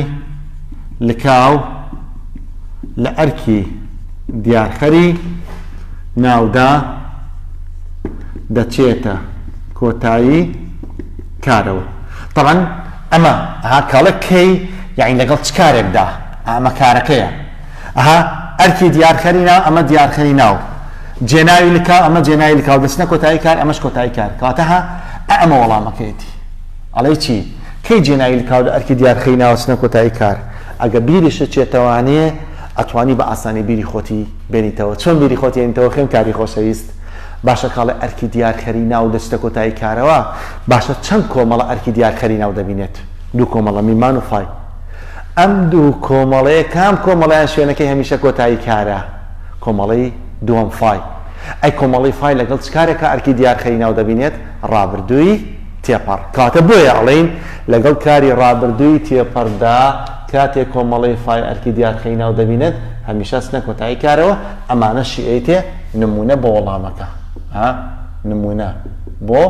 لکاو لە ئەرکی دیارخەری ناودا دەچێتە کۆتایی کارەوە. تەبعەن ئەمە ئەها کاڵێک کەی یانی لەگەڵ چ کارێکدا ئەمە کارەکەیە. ئەها ئەرکی دیارخەری ناو ئەمە دیارخەری ناو جێناوی لکاو ئەمە جێناوی لکاو دەچنە کۆتایی کار ئەمەش کۆتایی کار کەواتە ها ئەمە وەڵامەکەیەتی ئەڵێ چی کەی جێناوی لکاو لە ئەرکی دیارخەری ناوە چنە کۆتایی کار ئەگە بیریشە چێتەوانێ ئەتوانی بە ئاسانی بیری خۆتی بێنیتەوە چۆن بیری خۆتی ێنیتەوە خوێن کاری خۆشەویست باشە کاڵێ ئەرکی دیارخەری ناو دەچتە کۆتایی کارەوە باشە چەند کۆمەڵە ئەرکی دیارخەری ناو دەبینێت دوو کۆمەڵە میمان و فای ئەم دوو کۆمەڵەیە کام کۆمەڵەیان شوێنەکەی هەمیشە کۆتایی کارە؟ کۆمەڵەی دووەم فای. ئەی کۆمەڵەی فای لەگەڵ چ کارێکا ئەرکی دیار خەری ناو دەبینێت؟ ڕابردووی تێپەڕ. کەواتە بۆیە ئەڵێین لەگەڵ کاری ڕابردووی تێپەڕدا کاتێ کۆمەڵەی فای ئەرکی دیار خەی ناو دەبینێت هەمیشە ئەچنە کۆتایی کارەوە ئەمانە شیئەیتێ نموونە بۆ وەڵامەکە. ها نموونە بۆ.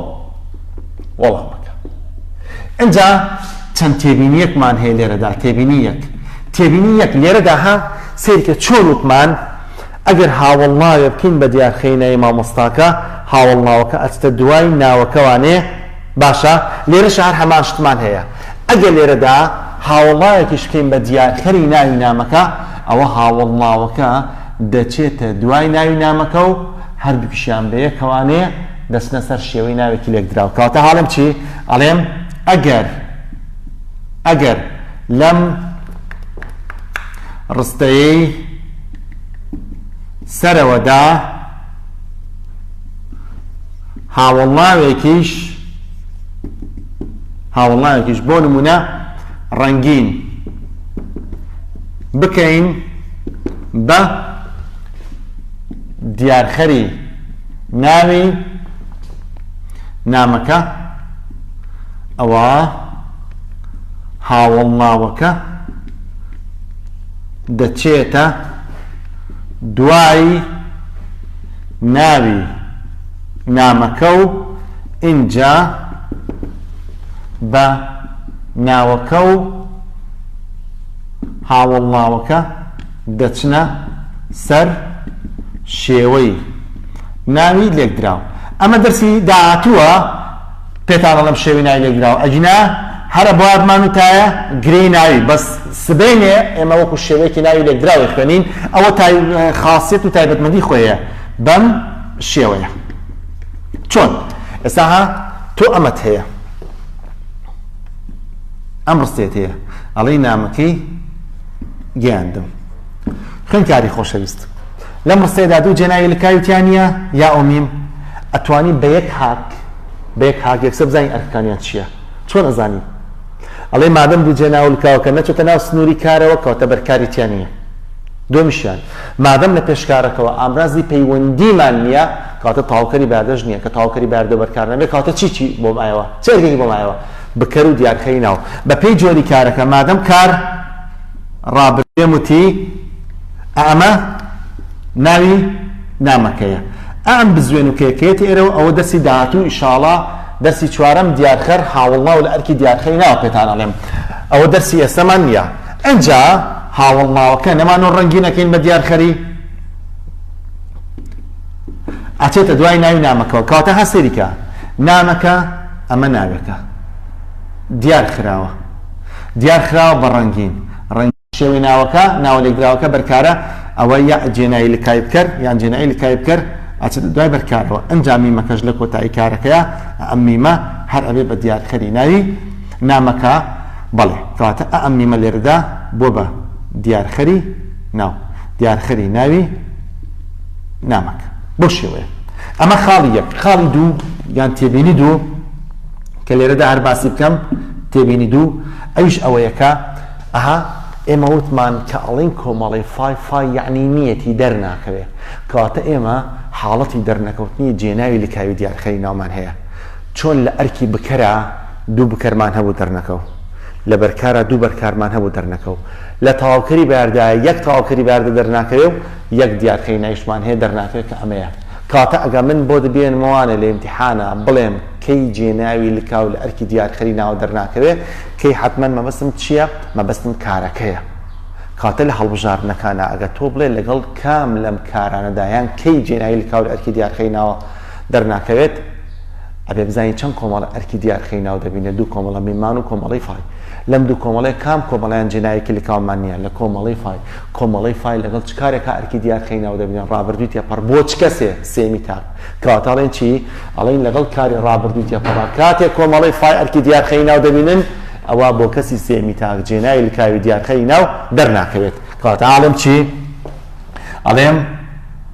وەڵامەکە. ئینجا چەند تێبینییەکمان هەیە لێرەدا، تێبینی یەک، تێبینی یەک، لێرەدا ها سەیرکە چۆن وتمان ئەگەر هاوەڵناوێ بکەین بە دیارخەی ناوی مامۆستاکە، هاوەڵناوەکە ئەچتە دوای ناوەکە وانێ؟ باشە، لێرەشا هەر هەمان شتمان هەیە، ئەگەر لێرەدا هاوەڵناوێکیش بکەین بە دیارخەری ناوی نامەکە، ئەوە هاوەڵناوەکە دەچێتە دوای ناوی نامەکە و، هەردووکیشیان بەیەکەوانەیە دەچنە سەر شێوەی ناوێکی لێکدراو. کەواتە هەڵێم چی؟ ئەڵێم ئەگەر ئەگەر لەم ڕستەیەی سەرەوەدا هاوڵناوێکیش هاوڵناوێکیش بۆ نمونە ڕەنگین بکەین بە دیارخەری ناوی نامەکە ئەوە هاوڵناوەکە دەچێتە دوایی ناوی نامەکە و ئینجا بە ناوەکە و هاوڵناوەکە دەچنە سەر شێوەی ناوی لێکدراو. ئەمە دەرسی داهاتووە پێتان ئەڵێم شێوەی ناوی لێکدراو ئەگینا هەر ئەبوایە بمانوتایە گرێی ناوی بەس سبەینێ ئێمە وەکو شێوەیەکی ناوی لێکدراو دەخوێنین ئەوە تای خاصیت و تایبەتمەندی خۆیە بەم شێوەیە چۆن ئێستا ها تۆ ئەمەت هەیە ئەم ڕستێت هەیە ئەڵی نامەکەی گەیاندم. خوێندکاری خۆشەویست. لەم ڕستەیەدا دوو جێناوی لکاوی تیا نییە، یا و میم؟ ئەتوانین بە یەک هاک، بە یەک هاک یەکسەر بزانین ئەرکەکانیان چییە؟ چۆن ئەزانین؟ ئەڵێی مادەم دوو جێناو و لکاوەکە نەچۆتە ناو سنووری کارەوە، کەواتە بەرکاری تیا نییە. دووەمیشیان، مادەم لە پێش کارەکەوە ئامرازی پەیوەندیمان نییە، کەواتە تەواوکەری بەیادەش نییە. کە تەواوکەری بەیاردەو بەرکار نەبێ، کەواتە چیی بۆ مایەوە؟ چ ئەرکێکی بۆ مایەوە؟ بکەر و دیارخەی ناو بە پێی جۆری کارەکە مادەم کار ڕابرد پێم وتی ئا ئەمە ناوی نامەکەیە ئا ئەم بزوێن و کێکەیەتی ئێرەوە ئەوە دەرسی داهاتوو ئیشاڵا دەرسی چوارەم دیارخەر هاوڵناو لە ئەرکی دیارخەی ناوە پێتان ئەڵێم ئەوە دەرسی ئێستەمان نییە ئەجا هاوڵناوەکە نەمانۆ ڕەنگینەکەین بە دیارخەری ئەچێتە دوای ناوی نامەکەوە کەواتە ها سەیریکە نامەکە ئەمە ناوێکە دیار خراوە دیار خراوە بە ڕەنگین ڕەنگ شێوەی ناوەکە ناوە لێکدراوەکە بەرکارە ئەوە یا جێنایی لکای بکەر یان جێنایی لکای بکەر ئەچێت دوای بەرکارەوە ئەنجامی مەکەش لە کۆتایی کارەکەیە ئەم میمە هەر ئەبێ بە دیارخەری ناوی نامەکە بەڵێ کەواتە ئەم میمە لێرەدا بۆ بە دیارخەری ناو دیارخەری ناوی نامەکە بەو شێوەیە. ئەمە خاڵی یەک. خاڵی دوو یان تێبینی دوو کە لێرەدا هەر باسی بکەم، تێبینی دوو ئەویش ئەوەیە کە ئەها ئێمە وتمان کە ئەڵێین کۆمەڵەی فای فای یەعنی نییەتی دەرناکەوێ، کەواتە ئێمە حاڵەتی دەرنەکەوتنی جێناوی لکاوی دیارخەری ناومان هەیە. چۆن لە ئەرکی بکەرا دوو بکەرمان هەبوو دەرنەکەو، لە بەرکارا دوو بەرکارمان هەبوو دەرنەکەو، لە تەواوکەری بەیاردایە یەک تەواوکەری بەیاردە دەرناکەوێ و، یەک دیارکەی نایشتمان هەیە دەرناکرێت کە ئەمەیە کاتە ئەگە من بۆت بێنمەوانێ لە ئیمتیحانا بڵێم کەی جێناوی لکاو لە ئەرکی دیارکەری ناوە دەرناکەوێ کەی حەتمەن مەبەستم چیە مەبەستم کارەکەیە کاتە لە هەڵبژاردنەکانا ئەگە تۆ بڵێ لەگەڵ کام لەم کارانەدا یان کەی جێناوی لکاو لە ئەرکی دیارکەری ناوە دەرناکەوێت ئەبێ بزانین چەند کۆمەڵە ئەرکی دیارکەری ناو دەبینێ دوو کۆمەڵە میمان و کۆمەڵەی فای لەم دوو کۆمەڵەی کام کۆمەڵەیان جێناوێکی لکاومان نیە لە کۆمەڵەی فای کۆمەڵەی فایل لەگەڵ چ کارێکا ئەرکی دیار خەی ناو دەبینێ ڕابردووی تێپەڕ بۆ چ کەسێ سێمی تاک کەواتە ئەڵێن چی ئەڵێن لەگەڵ کاری ڕابردووی تێپەڕا کاتێ کۆمەڵەی فای ئەرکی دیار خەی ناو دەبینن ئەوە بۆ کەسی سێمی تاک جێنای لکاوی دیار خەی ناو دەرناکەوێت کەواتە ئاڵم چی ئەڵێم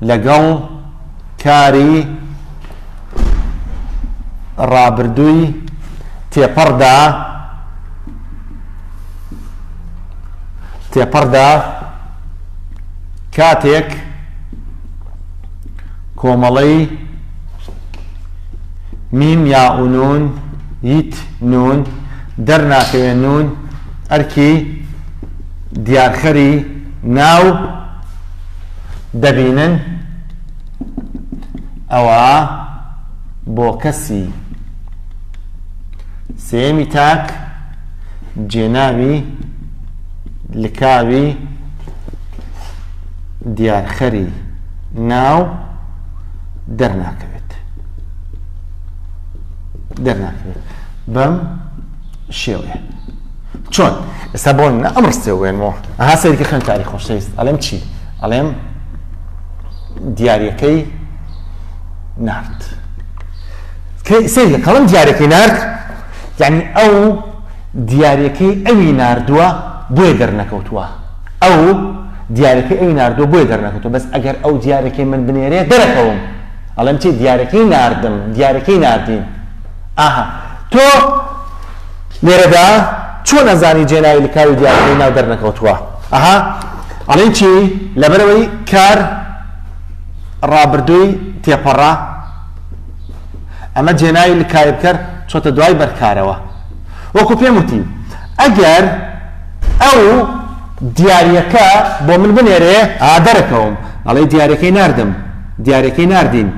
لەگەڵ کاری ڕابردووی تێپەڕدا تێپەڕدا کاتێک کۆمەڵەی میم یا ئونون یت نون دەرناکەوێ نون ئەرکی دیارخەری ناو دەبینن ئەوە بۆ کەسی سێمی تاک جێناوی لکاوی دیارخەری ناو دەرناکەوێت دەرناکرێت بەم شێوەیە چۆن ئێستا بۆ منە ئەم ڕستێ وێنمەوە ئەها سەیرکە خوێندکاری خۆشەویست ئەڵێم چی ئەڵێم دیارەکەی نارد سەیر لە کەڵم دیارەکەی نارد یعنی ئەو دیارەکەی ئەوی نردووە بۆێ دەرنەکەوتووە ئەو دیارەکەی ئەوی نردووە بۆێ دەرنەکەوتوە بەس ئەگەر ئەو دیارەکەی من بنێرێ دەرەکەوم ئەڵێم چی دیارەکەی نردم دیارەکەی نردین ئاها تۆ لێرەدا چۆن ئەزانی جێناوی لکاوی دیارەکەی ناو دەرنەکەوتووە ئەها ئەڵێن چی لەبەرەوەی کار ڕابردووی تێپەڕا ئەمە جێناوی لکاوی بکەر چۆتە دوای بەرکارەوە وەکو پێم وتی ئەگەر ئەو دیارەکە بۆ من بنێرێ ئادەرەکەوم ئەڵێ دیارەکەی نردم دیارەکەی نردین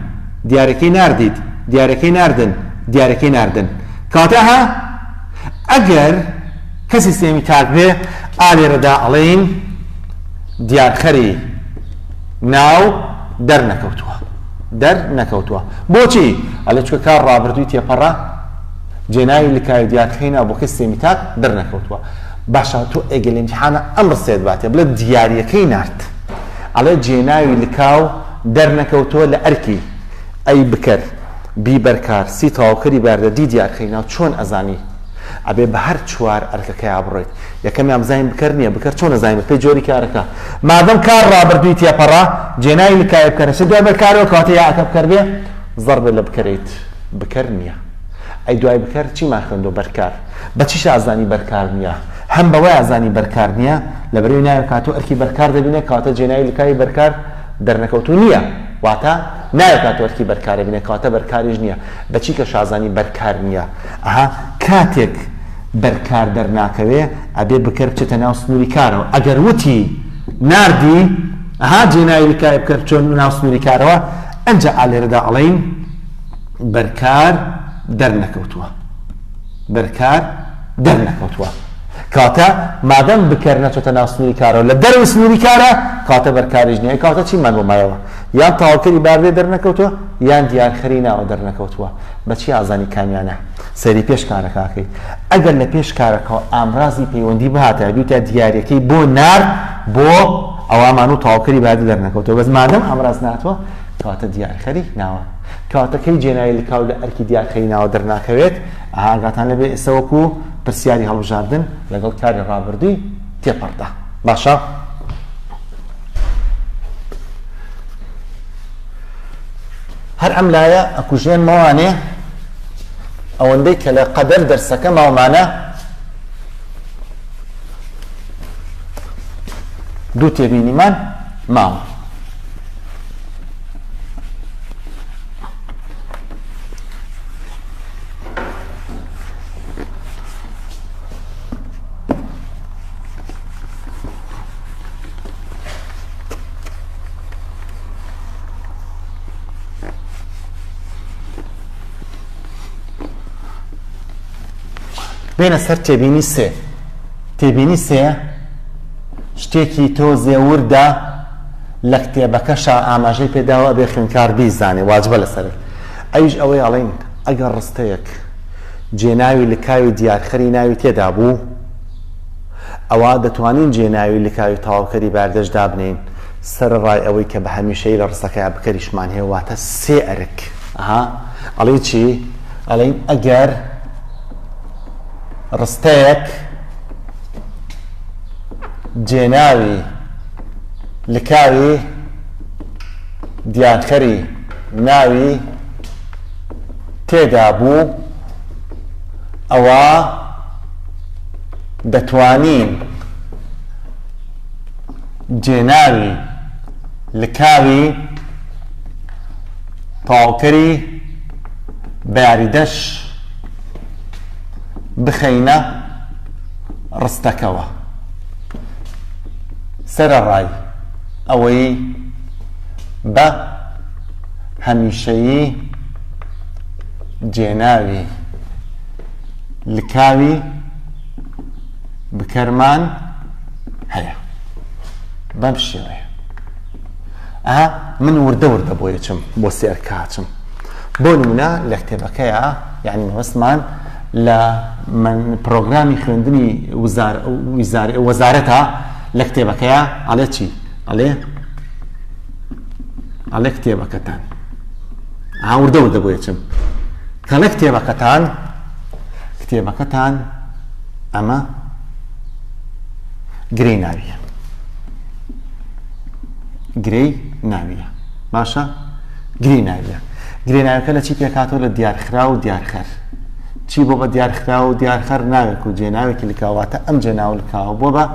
دیارەکەی ناردیت، دیارەکەی ناردن، دیارەکەی ناردن. کەواتە ئه ئەگەر کە سیستێمی تاک بێ، ئا لێرەدا ئەڵێین دیارخەری ناو دەرنەکەوتووە. دەرنەکەوتووە. بۆچی؟ ئەڵێ چونکە کار ڕابردووی تێپەڕە، جێناوی لکاوی دیارخەی ناو بۆ کە سیستێمی تاک دەرنەکەوتووە. باشە تۆ ئێگەر لە ئیمتیحانا ئەم ڕستەیەت باتێ، بڵێ دیاریەکەی نارد. ئەڵێ جێناوی لکاو. دەرنەکەوتووە لە ئەرکی. ئەی بکەر بیبەر کار سی تەواوکەری بەردە دی دیار کەی ناو چۆن ئەزانی ئەبێ بە هەر چوار ئەرکەکەیا بڕۆیت یەکەمیان بزانین بکەر نیە بکەر چۆن ئەزانی بە پێی جۆری کارەکە مادەم کار ڕابردووی تێپەڕە جێناوی لکاوی بکەرە چە دوای بەر کارەوە کەواتە یا ئەکە بکەر بێ زەڕ بێ لە بکەریت بکەر نیە ئەی دوای بکەر چیمان خوێندۆ بەر کار بە چیش ئازانی بەر کار نیە هەم بەوەی ئازانی بەر کار نیە لە بەرەوی ناوی کاتۆ ئەرکی بەر کار دەبینێ کەواتە جێناوی لکاوی بەر کار دەرنەکەوتوو نیە واتا ناوێ کاتۆ ئەرکی بەرکارە بینێ کەواتە بەرکاریش نیە بەچی کە شازانی بەرکار نیە ئەها کاتێک بەرکار دەرناکەوێ ئەبێ بکەر بچێتە ناو سنوری کارەوە ئەگەر وتی ناردی ئەها جێناوی بکای بکەر چۆن ناو سنوری کارەوە ئەنجا ئالێرەدا ئەڵین بەرکار دەرنەکەوتووە بەرکار دەرنەکەوتووە کاتە مادەم بکەر نەچۆتە ناو سنووری کارەوە لە دەرەوەی سنووری کارە کاتە بەر کاریش نییە ئەی کاتە چیمان بۆ مایەوە یان تاوکەری باردێ دەرنەکەوتووە یان دیارخەری ناوە دەرنەکەوتووە بەچی ئازانی کامیانە سەیری پێش کارەکەکەی ئەگەر لە پێش کارەکەەوە ئامرازی پەیوەندی بهاتە دووتا دیارەکەی بۆ نار بۆ ئەوامان و تاوکەری باردێ دەرنەکەوتەوە بەس مادەم ئامراز ناتوە کاتە دیارخەری ناوە کاتەکەی جێناوی لکاو لە ئەرکی دیارخەری ناوە دەرناکەوێت ئەها ئاگاتان لێ بێ ئێستا وەکو پرسیاری هەڵبژاردن لەگەڵ کاری ڕابردووی تێپەڕدا باشە هەر ئەم لایە ئەکوژێن مەوانێ ئەوەندەی کە لە قەدەر دەرسەکە ماومانە دوو تێبینیمان ماوە بێنە سەر تێبینی سێ تێبینی سێ شتێکی تۆزێ وردە لە کتێبەکەشا ئاماژەی پێداوە ئەبێ خویندکار بیزانێ واجبە لەسەری ئەویش ئەوەی ئەڵێن ئەگەر ڕستەیەک جێناوی لکاوی دیارخەری ناوی تێدا بوو ئەوا دەتوانین جێناوی لکاوی تەواوکەری باردەش دابنێین سەرەڕای ئەوەی کە بە هەمیشەیی لە ڕستەکەیا بکەریشمان هەیە واتە سێ ئەرک ئەها ئەڵێی چی ئەڵێن ئەگەر ڕستەیەک جێناوی لکاوی دیانخەری ناوی تێدا بوو ئەوا دەتوانین جێناوی لکاوی تەواوکەری بەیاریدەش بخەینە ڕستەکەوە. سەرەڕای ئەوەی بە هەمیشەیی جێناوی لکاوی بکەرمان هەیە بەم شێوەیە. ئەها من وردە وردە بۆی ئەچم بۆ سێ ئەرکە ئەچم بۆ نمونە لە کتێبەکەیە یعنی مەبەستمان لە پرۆگرامی خوێندنی وەزارەتە لە کتێبەکەیە ئەڵێ چی ئەڵێ ئەڵێ کتێبەکەتان هاوردە وردە بۆ ئەچم کەڵێ کتێبەکەتان کتێبەکەتان ئەمە گرێ ناویە گرێی ناوییە باشە گرێی ناوییە گرێ ناوەکە لە چی پێکاتەوە لە دیارخرا و دیارخەر چی بۆ بە دیارخرا و دیارخەر ناوێک و جێناوێکی لکاواتە ئەم جێناو لکاوە بۆ بە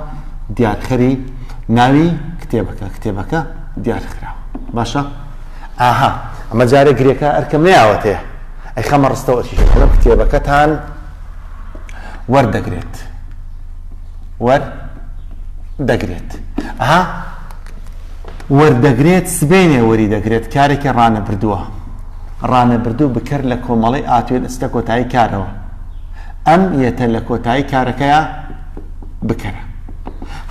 دیارخەری ناوی کتێبەکە کتێبەکە دیارخرا باشە ئاها ئەمە جارێک گرێکە ئەرکەم نیاوەتەیە ئەی خەمە ڕستەوە ئەرکیشەکەم کتێبەکەتان وەردەگرێت وەر دەگرێت ها وەر دەگرێت سبێنێ وەری دەگرێت کارێکی ڕانە بردووە ڕانە بردوو بکەر لە کۆمەڵی ئاتوێن ئستە کۆتایی کارەوە ئەم یەتە لە کۆتایی کارەکەیە بکەرە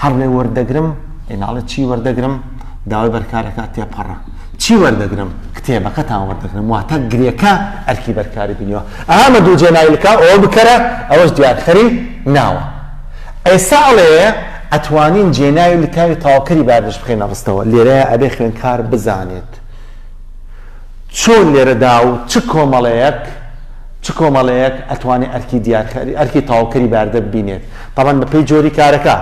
هەر لێ وەردەگرم ئیناڵە چی وەردەگرم داوای بەرکارەکە تێپەڕە چی وەردەگرم کتێبەکەتان وەردەگرم واتە گرێکە ئەرکی بەرکاری بینیەوە ئامە دوو جێناویلکە ئەوە بکەرە ئەوەش دیارخەری ناوە ئێستا ئەڵێ ئەتوانین جێناوی لکاوی تاوکەری باردەش بخەینە ڕستەوە، لێرەیا ئەبێ خوێندکار بزانێت چۆن لێرەدا و چ کۆمەڵەیەک چ کۆمەڵەیەک ئەتوانێ ئەرکی دیارکاری ئەرکی تاوکەری باردە ببینێت تابان بە پێی جۆری کارەکە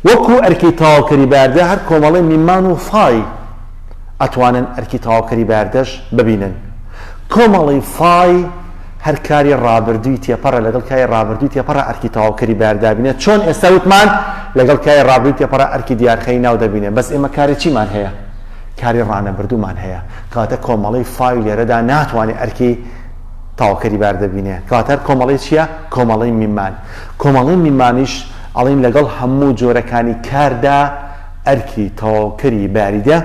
وەکو ئەرکی تاوکەری باردە هەر کۆمەڵەی میمان و فای ئەتوانن ئەرکی تاوکەری باردەش ببینن کۆمەڵەی فای هەر کاری ڕابردووی تێپەڕە لەگەڵ کاری ڕابردووی تێپەڕە ئەرکی تەواوکەری بەیار دابینێ چۆن ئێستا وتمان لەگەڵ کاری ڕابردووی تێپەڕە ئەرکی دیارخەری ناو دەبینێ بەس ئێمە کاری چیمان هەیە کاری ڕانەبردوومان هەیە کەواتە کۆمەڵەی فای لێرەدا ناتوانێت ئەرکی تاوکەری بار دەبینێ کەواتەر کۆمەڵی چییە کۆمەڵی میمان کۆمەڵی میمانیش ئەڵین لەگەڵ هەموو جۆرەکانی کاردا ئەرکی تەواوکەری باریدە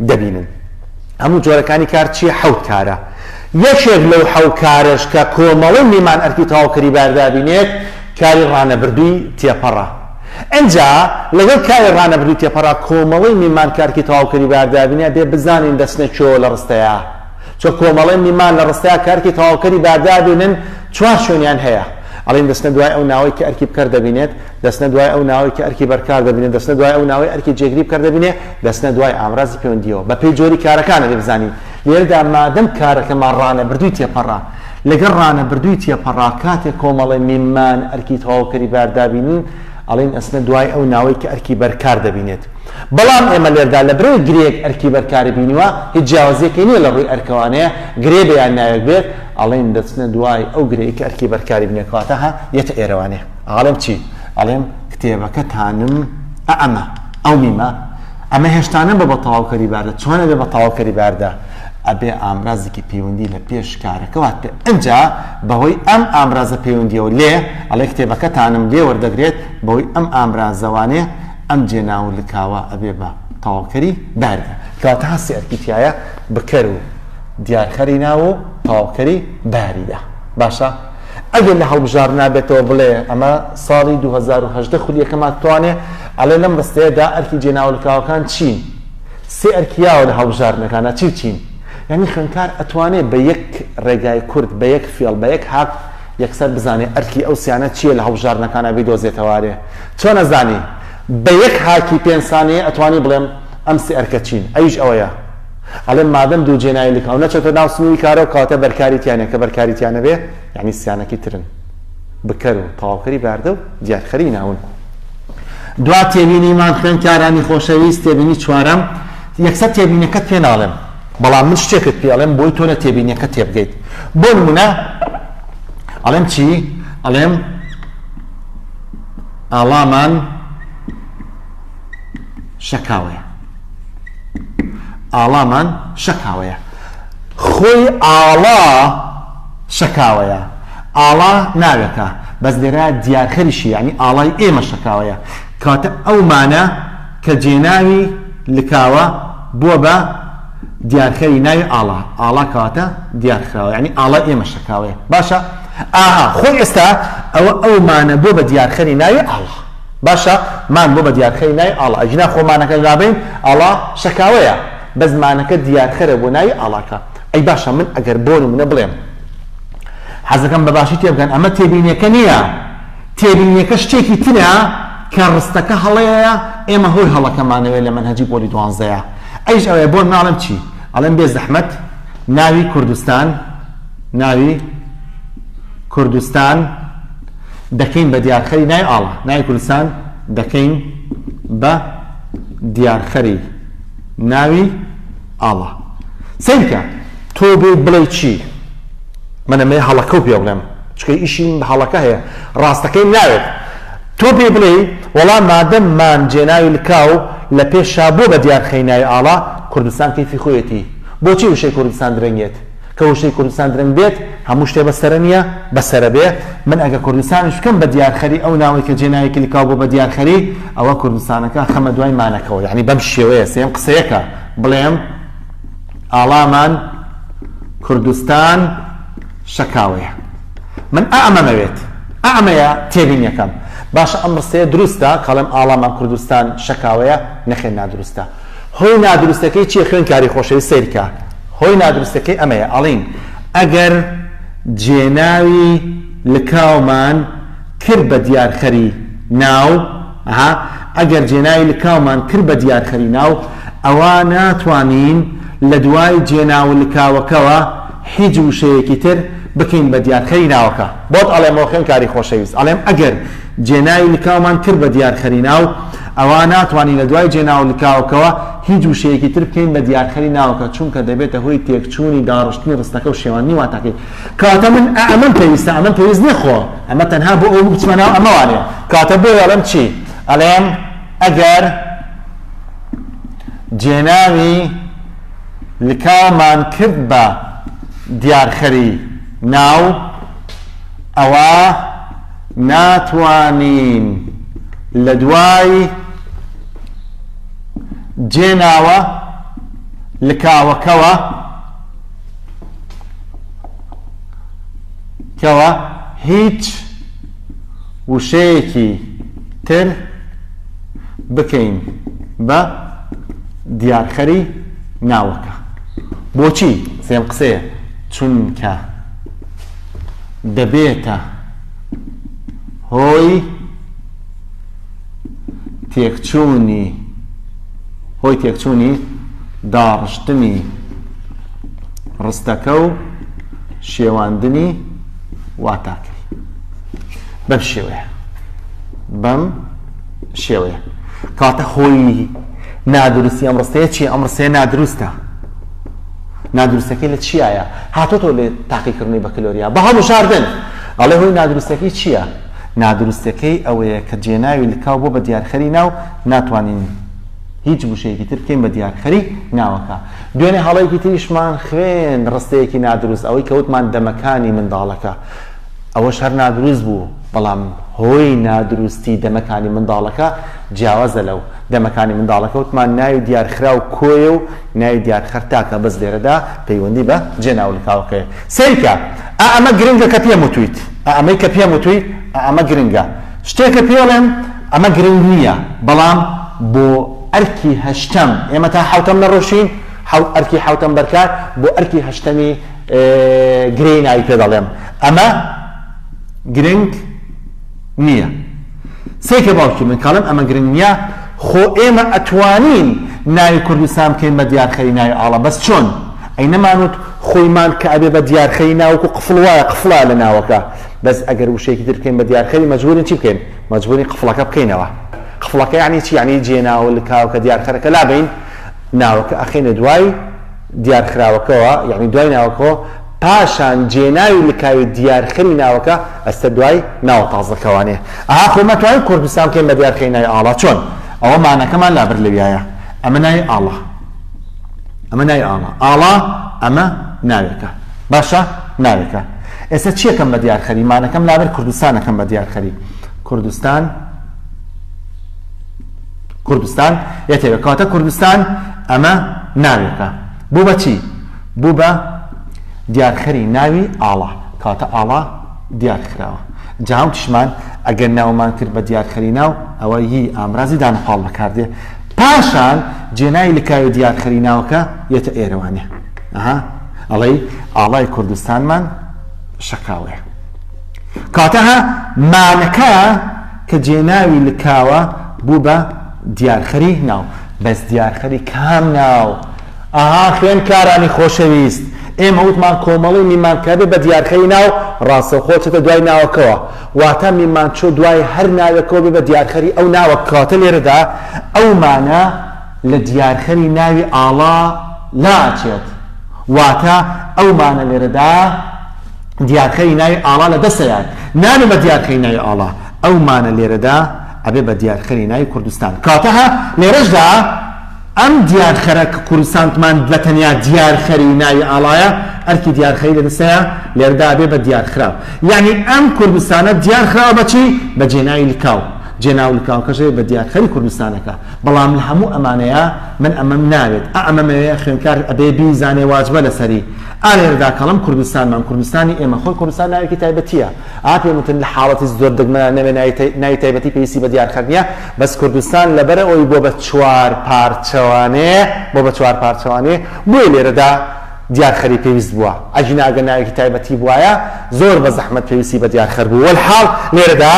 دەبینن هەموو جۆرەکانی کار چیە؟ حەوت کارە. یەکێک لەو حەو کارەش کە کۆمەڵەی میمان ئەرکی تەواوکەری بار دابینێت کاری ڕانەبردووی تێپەڕە. ئنجا لەگەڵ کاری ڕانەبردووی تێپەڕا کۆمەڵەی میمان کە ئەرکی تەواوکەری بار دابینێ بێ بزانین دەچنە کوێوە لە ڕستەیا. چۆ کۆمەڵەی میمان لە ڕستەیا کە ئەرکی تەواوکەری بار دابینن چوار شوێنیان هەیە. ئەڵێین دەچنە دوای ئەو ناوەی کە ئەرکی بکەر دەبینێت. دەچنە دوای ئەو ناوەی کە ئەرکی بەرکار دەبینێ، دەچنە دوای ئەو ناوەی ئەرکی جێگری بکەر دەبینێ، دەچنە دوای ئامرازی پێوەندییەوە. بە پێی جۆری کارەکان ئەبێ بزانین. لێرەدا مادەم کارەکەمان ڕانەبردووی تێپەڕە، لەگەڵ ڕانەبردووی تێپەڕا کاتێ کۆمەڵە میممان ئەرکی تەواوکەری بار دابینین، ئەڵێین ئەچنە دوای ئەو ناوەی کە ئەرکی بەرکار دەبینێت. بەڵام ئێمە لێرەدا لە برەوی گرێیەک ئەرکی بەرکاری بینیوە، هیچ جیاوازییەکی نییە لە ڕووی ئەرکەوانەیە، گرێ بێ یان ناوێک بێت، ئەڵێین دەچنە دوای ئەو گرێی کە ئەرکی بەرکاری بینێت، کەواتە، هە، یەتە ئێرەوانێ. ئەڵێم چی؟ ئەڵێم کتێبەکەتانم ئە ئەمە، ئەو میمە، ئەمە هێشتا نەبووە بە تەواوکەری باردا، چۆن ئەبێ بە تەواوکەری باردا؟ ئەبێ ئامرازێکی پەیوەندی لە پێش کارەکە وات پێ، ئنجا بەهۆی ئەم ئامرازە پەیوەندییەوە لێ، ئەڵێ کتێبەکەتانم لێ وەردەگرێت، بەهۆی ئەم ئامرازەوانەیە ئەم جێناو و لکاوە ئەبێ بە تەواوکەری باردا. کەواتە هەستی ئەرکی تیایە بکەر و دیارخەری ناو و تەواوکەری باریدا. باشە؟ ئەگەر لە هەڵبژاردنا بێتەوە بڵێ ئەمە ساڵی دوو هەزار و هەژدە خولیەکەمە توانێ ئەڵێ لەم ڕستەیە دا ئەرکی جێناولکاوەکان چین سێ ئەرکی یاوە لە هەڵبژاردنەکانا چی و چین یانی خوێندکار ئەتوانێ بە یەک ڕێگای کورت بە یەک فێڵ بە یەک هاک یەکسەر بزانێ ئەرکی ئەو سیانە چیە لە هەڵبژاردنەکانا بیدۆزێتەوارێ چۆن ئەزانی بە یەک هاکی پێنج سانیە ئەتوانی بڵێم ئەم سێ ئەرکە چین ئەویش ئەوەیە ئەڵێم مادەم دوو جێناوی لکاو نەچۆتە ناو سنووری کارەوە کەواتە بەرکاری تیا نیە کە بەرکاری تیا نەبێ یانی سیانەکی ترن بکەر و تەواوکەری باردە و دیارخەری ناون دوا تێبینیمان خوێندکارانی خۆشەویست تێبینی چوارەم یەکسەر تێبینەکەت پێ ناڵێم بەڵام من شتێکت پێڵێم بۆی تۆ لە تێبینیەکە تێبگەیت بۆ نمونە ئەڵێم چی ئەڵێم ئاڵامان شەکاوەیە ئاڵامان شەکاوەیە خۆی ئاڵا شەکاوەیە ئاڵا ناوێکە بەس لێرە دیارخەریشی ینی ئاڵای ئێمە شەکاوەیە کاتە ئەومانە کە جێناوی لکاوە بووە بە دیارخەری ناوی ئاڵا ئاڵا کاتە دیارخراوە ینی ئاڵای ئێمە شەکاوەیە باشە ئاها خۆی ئێستا ئەوە ئەومانە بۆ بە دیارخەری ناوی ئاڵا باشە مان بۆ بە دیارخەری ناوی ئاڵا ئەگینا خۆ مانەکەش نابەین ئاڵا شەکاوەیە بەس مانەکە دیارخەرە بۆ ناوی ئاڵاکە ئەی باشە من ئەگەر بۆ نمونە بڵێم حەزەکەم بە باشی تێبگەن ئەمە تێبینیەکە نییە تێبینیەکە شتێکی ترە کە ڕستەکە هەڵەیە ئێمە هۆی هەڵەکەمانەوێت لە مەنهەجی پۆلی دوانزەیە ئەیش ئەوێ بۆ ناڵم چی ئەڵێن بێ زەحمەت ناوی کوردستان ناوی کوردستان دەکەین بە دیارخەری ناوی ئاڵا، ناوی کوردستان دەکەین بە دیارخەری ناوی ئاڵا. سەیر بکە، تۆ بێیت بڵێی چی؟ من ئەمەی هەڵەکە و پێ بڵێم، چونکە ئیشی من بە هەڵەکە هەیە، ڕاستەکەیم ناوێت. تۆ پێی بڵێی، وەڵا مادەم مان جێناوی لکاو لە پێشا بووە بە دیارخەری ناوی ئاڵا، کوردستان کەیفی خۆیەتی، بۆچی وشەی کوردستان درەنگێت؟ کە وشەی کوردستان درەنگ بێت هەموو شتێ بە سەرە نییە بە سەرە بێ من ئەگە کوردستانیش بکەم بە دیارخەری ئەو ناوەی کە جێ ناوی کلیکاو بۆ بە دیارخەری ئەوە کوردستانەکە خەمە دوای مانەکەوە یعنی بەم شێوەیە سێم قسەیەکە بڵێم ئاڵامان کوردستان شەکاوەیە من ئەمەمەوێت ئەمەیە تێبینیەکەم باشە ئەم ڕستەیە دروستە کاڵم ئاڵامان کوردستان شەکاوەیە نەخێن نادروستە هۆی نادروستەکەی چیە خوێن کاری خۆشەویست سەیرکە هۆی نادروستەکەی ئەمەیە ئەڵین ئەگەر جێناوی لکاومان کرد بە دیارخەری ناو ها ئەگەر جێناوی لکاومان کرد بە دیارخەری ناو ئەوا ناتوانین لە دوای جێناو لکاوەکەوە هیچ وشەیەکی تر بکەین بە دیارخەری ناوەکە بۆت ئەڵێمەوە خوێن کاری خۆشەویست ئەڵێم ئەگەر جێناوی لکاومان کرد بە دیارخەری ناو، ئەوا ناتوانین لە دوای جێناو و لکاوەکەوە هیچ وشەیەکی تر بکەین بە دیارخەری ناوەکە، چونکە دەبێتە هۆی تێکچوونی داڕشتنی ڕستەکە و شێواندنی واتاکەی. کەواتە من ئا ئەمەم پێویستە، ئەمەم پێویست نییە، خۆ ئەمە تەنها بۆ ئەوە بوو بچمە ناو ئەمە وانییە. کەواتە بۆیە ئەڵێم چی؟ ئەڵێم ئەگەر جێناوی لکاومان کرد بە دیارخەری ناو، ئەوا. ناتوانین لە دوای جێناوە لکاوەکەوە کەوە هیچ وشەیەکی تر بکەین بە دیارخەری ناوەکە بۆچی سێم قسەیە چونکە دەبێتە هۆی تێکچوونی هۆی تێکچوونی داڕشتنی ڕستەکە و شێواندنی واتاکەی بەم شێوەیە بەم شێوەیە کاتە هۆی نادروستی ئەم ڕستەیە چی ئەم ڕستەیە نادروستە نادروستەکەی لە چیایە؟ هاتۆتەوە لە تاقی کڕنەی بەکلۆریا بە هەڵبژاردن ئەڵێ هۆی نادروستەکەی چیە؟ نادروستەکەی ئەوەیە کە جێناوی لکاو بۆ بە دیارخەری ناو ناتوانین هیچ وشەیەکی تر بکەین بە دیارخەری ناوەکە. دوێنێ هەڵەیەکی تریشمان خوێند ڕستەیەکی نادروست ئەوەی کە وتمان دەمەکانی منداڵەکە ئەوەش هەر نادروست بوو بەڵام هۆی نادروستی دەمەکانی منداڵەکە جیاوازە لەو دەمەکانی منداڵەکە وتمان ناوی دیارخراو کۆیە و ناوی دیار خەر تاکە بەس لێرەدا پەیوەندی بە جێ ناو لکاوەکەیە سەیرکە ئا ئەمە گرنگە کە پێم وتویت ئا ئەمەی کە پێم وتویت ئا ئەمە گرنگە شتێکە پێڵێم ئەمە گرنگ نییە بەڵام بۆ ئەرکی هەشتەم ئێمە تا حەوتەم نەڕۆشین حەوت ئەرکی حەوتەم بەرکات بۆ ئەرکی هەشتەمی گرێی ناوی پێ دەڵێم ئەمە گرنگ نیە سەیر کە باوکی من کاڵێم ئەمە گرنگ نیە خۆ ئێمە ئەتوانین ناوی کوردستان بکەین بە دیارخەری ناوی ئاڵا بەس چۆن ئەی نەمانوت خۆیمان کە ئەبێ بە دیارخەری ناوکو قفڵ وایە قفڵە لە ناوەکە بەس ئەگەر وشەیەکی تر بکەین بە دیارخەری مەجبورین چی بکەین مەجبوری قفڵەکە بکەینەوە قفڵەکە یعنی چی یعنی جێناوە لکاوکە دیارخەرەکە لابین ناوەکە ئەخینە دوای دیارخراوەکەوە یعنی دوای ناوەکەوە پاشان جێناوی لکاوی دیارخەری ناوەکە ئەچتە دوای ناوە تازەکەوانێ ئاا خۆ مەتوانین کوردستان بکەین بە دیارخەری ناوی ئاڵا چۆن ئەوە مانەکەمان لابرد لەویایە ئەمە ناوی ئاڵا ئەمە ناوی ئاڵا ئاڵا ئەمە ناوێکە باشە ناوێکە ئێستا چیەکەم بە دیارخەری مانەکەم لابرد کوردستانەکەم بە دیارخەری کوردستان کوردستان یەتێکە کاتە کوردستان ئەمە ناوێکە بوو بە چی؟ بوو بە دیارخەری ناوی ئاڵا، کەواتە ئاڵا دیار خراوە. جا وتیشمان، ئەگەر ناومان کرد بە دیارخەری ناو، ئەوە ی ئامرازی دانەپاڵ بەکار دێ. پاشان جێناوی لکاوی دیارخەری ناوەکە یەتە ئێرە وانیە؟ ئەها، ئەڵێی ئاڵای کوردستانمان شەکاوەیە. کەواتە ها مانەکە کە جێناوی لکاوە بوو بە دیارخەری ناو. بەس دیار خەری کام ناو. ئەها خوێندکارانی خۆشەویست ئێمە وتمان کۆمەڵەی میمانکەبێ بە دیارخەری ناو ڕاستەوخۆ چێتە دوای ناوەکەوە واتا میمانچۆ دوای هەر ناوێکەوە بێ بە دیارخەری ئەو ناوە کەواتە لێرەدا ئەو مانە لە دیارخەری ناوی ئاڵا ناچێت واتا ئەو مانە لێرەدا دیارخەری ناوی ئاڵا لە دەسەیان نانە بە دیارخەری ناوی ئاڵا ئەو مانە لێرەدا ئەبێ بە دیارخەری ناوی کوردستان کاتەها لێرەشدا ئەم دیارخەرە کە کوردستانتمان بە تەنیا دیارخەری ناوی ئاڵایە ئەرکی دیارخەری لە دەستەیە لێرەدا ئەبێ بە دیارخراو یەعنی ئەم کوردستانە دیارخراوە بە چی بە جێناوی لکاو جێناو لکاوکەش ئەبێ بە دیارخەری کوردستانەکە بەڵام لە هەموو ئەمانەیە من ئەمەم ناوێت ئا ئەمەمەوێ خوێندکار ئەبێ بیزانێ واجبە لەسەری ئا لێرەدا کەڵم کوردستانمان کوردستانی ئێمە خۆی کوردستان ناوێکی تایبەتییە ئا پێم وتن لە حاڵەتی زۆر دەگمەنان نەبێ ناوی تایبەتی پێویستی بە دیارخەر نیە بەس کوردستان لەبەر ئەوەی بۆ بە چوار پارچەوانێ بۆ بە چوار پارچەوانێ بۆیە لێرەدا دیارخەری پێویست بووە ئەگینا ئەگەر ناوێکی تایبەتی بوایە زۆر بە زەحمەت پێویستی بە دیارخەر بوو وەلحاڵ لێرەدا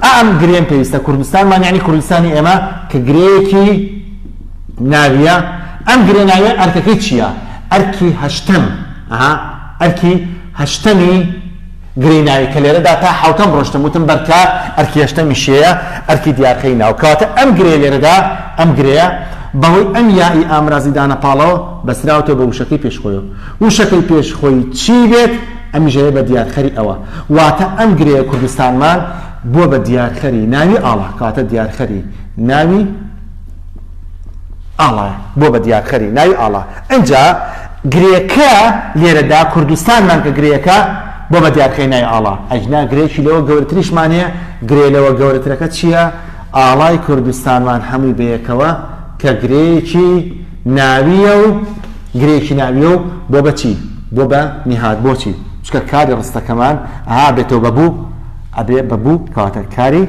ئا ئەم گرێم پێویستە کوردستانمان یعنی کوردستانی ئێمە کە گرێیەکی ناویە ئەم گرێ ناویە ئەرکەکەی چیە ئەرکی هەشتەم ئەها ئەرکی هەشتەمی گرێی ناوی کە لێرەدا تا حەوتەم ڕۆشتم وتم بەرکە ئەرکی هەشتەمی شێیە ئەرکی دیارکەی ناو کەواتە ئەم گرێ لێرەدا ئەم گرێیە بەهۆی ئەم یائی ئامرازی دانە پاڵەوە بەستراوەتەوە بە وشەکەی پێش خۆیەوە وشەکەی پێش خۆی چی بێت ئەمیش ئەبێ بە دیارخەری ئەوە واتە ئەم گرێیە کوردستانمان بووە بە دیارخەری ناوی ئاڵا کەواتە دیارخەری ناوی ئاڵا بووە بە دیارخەری ناوی ئاڵا ئنجا گرێکە لێرەدا کوردستانمان کە گرێکە بۆ بە دیارخەی نای ئاڵا ئەجنا گرێکی لەوە گەورتریشمان هەیە گرێ لەوە گەورترەکە چییە ئاڵای کوردستانمان هەمووی بەیەکەوە کە گرێکی ناویە و گرێکی ناویە و بۆ بەچی بۆ بە نهاد بۆچی چکە کاری ڕستەکەمان ئا بێتەوە بەبوو ئەبێ بەبوو کەواتە کاری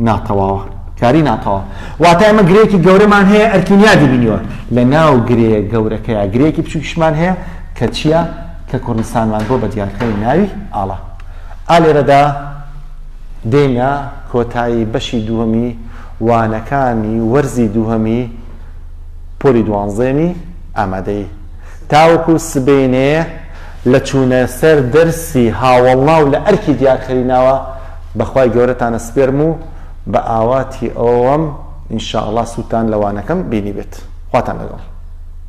ناتەواوە، کاری ناتەواو. واتە ئێمە گرێیەکی گەورەمان هەیە ئەرکین یادی بینیوە، لە ناو گرێ گەورەکەیا گرێیەکی بچووکیشمان هەیە کە چییە؟ کە کوردستانمان بۆ بە دیارکەی ناوی ئاڵا. ئا لێرەدا دێینە کۆتایی بەشی دووەمی وانەکانی وەرزی دووهەمی پۆلی دوانزەیەمی ئامادەیی. تاوەکو سبەینێ لە چوونە سەر دەرسی هاوەڵنا و لە ئەرکی دیارخەریناوە بە خوای گەورەتان ئەسپێرم و بە ئاواتی ئەوەوەم ان شاءاللە سوودتان لە وانەکەم بینیبێت. خواتان لەگەڵ.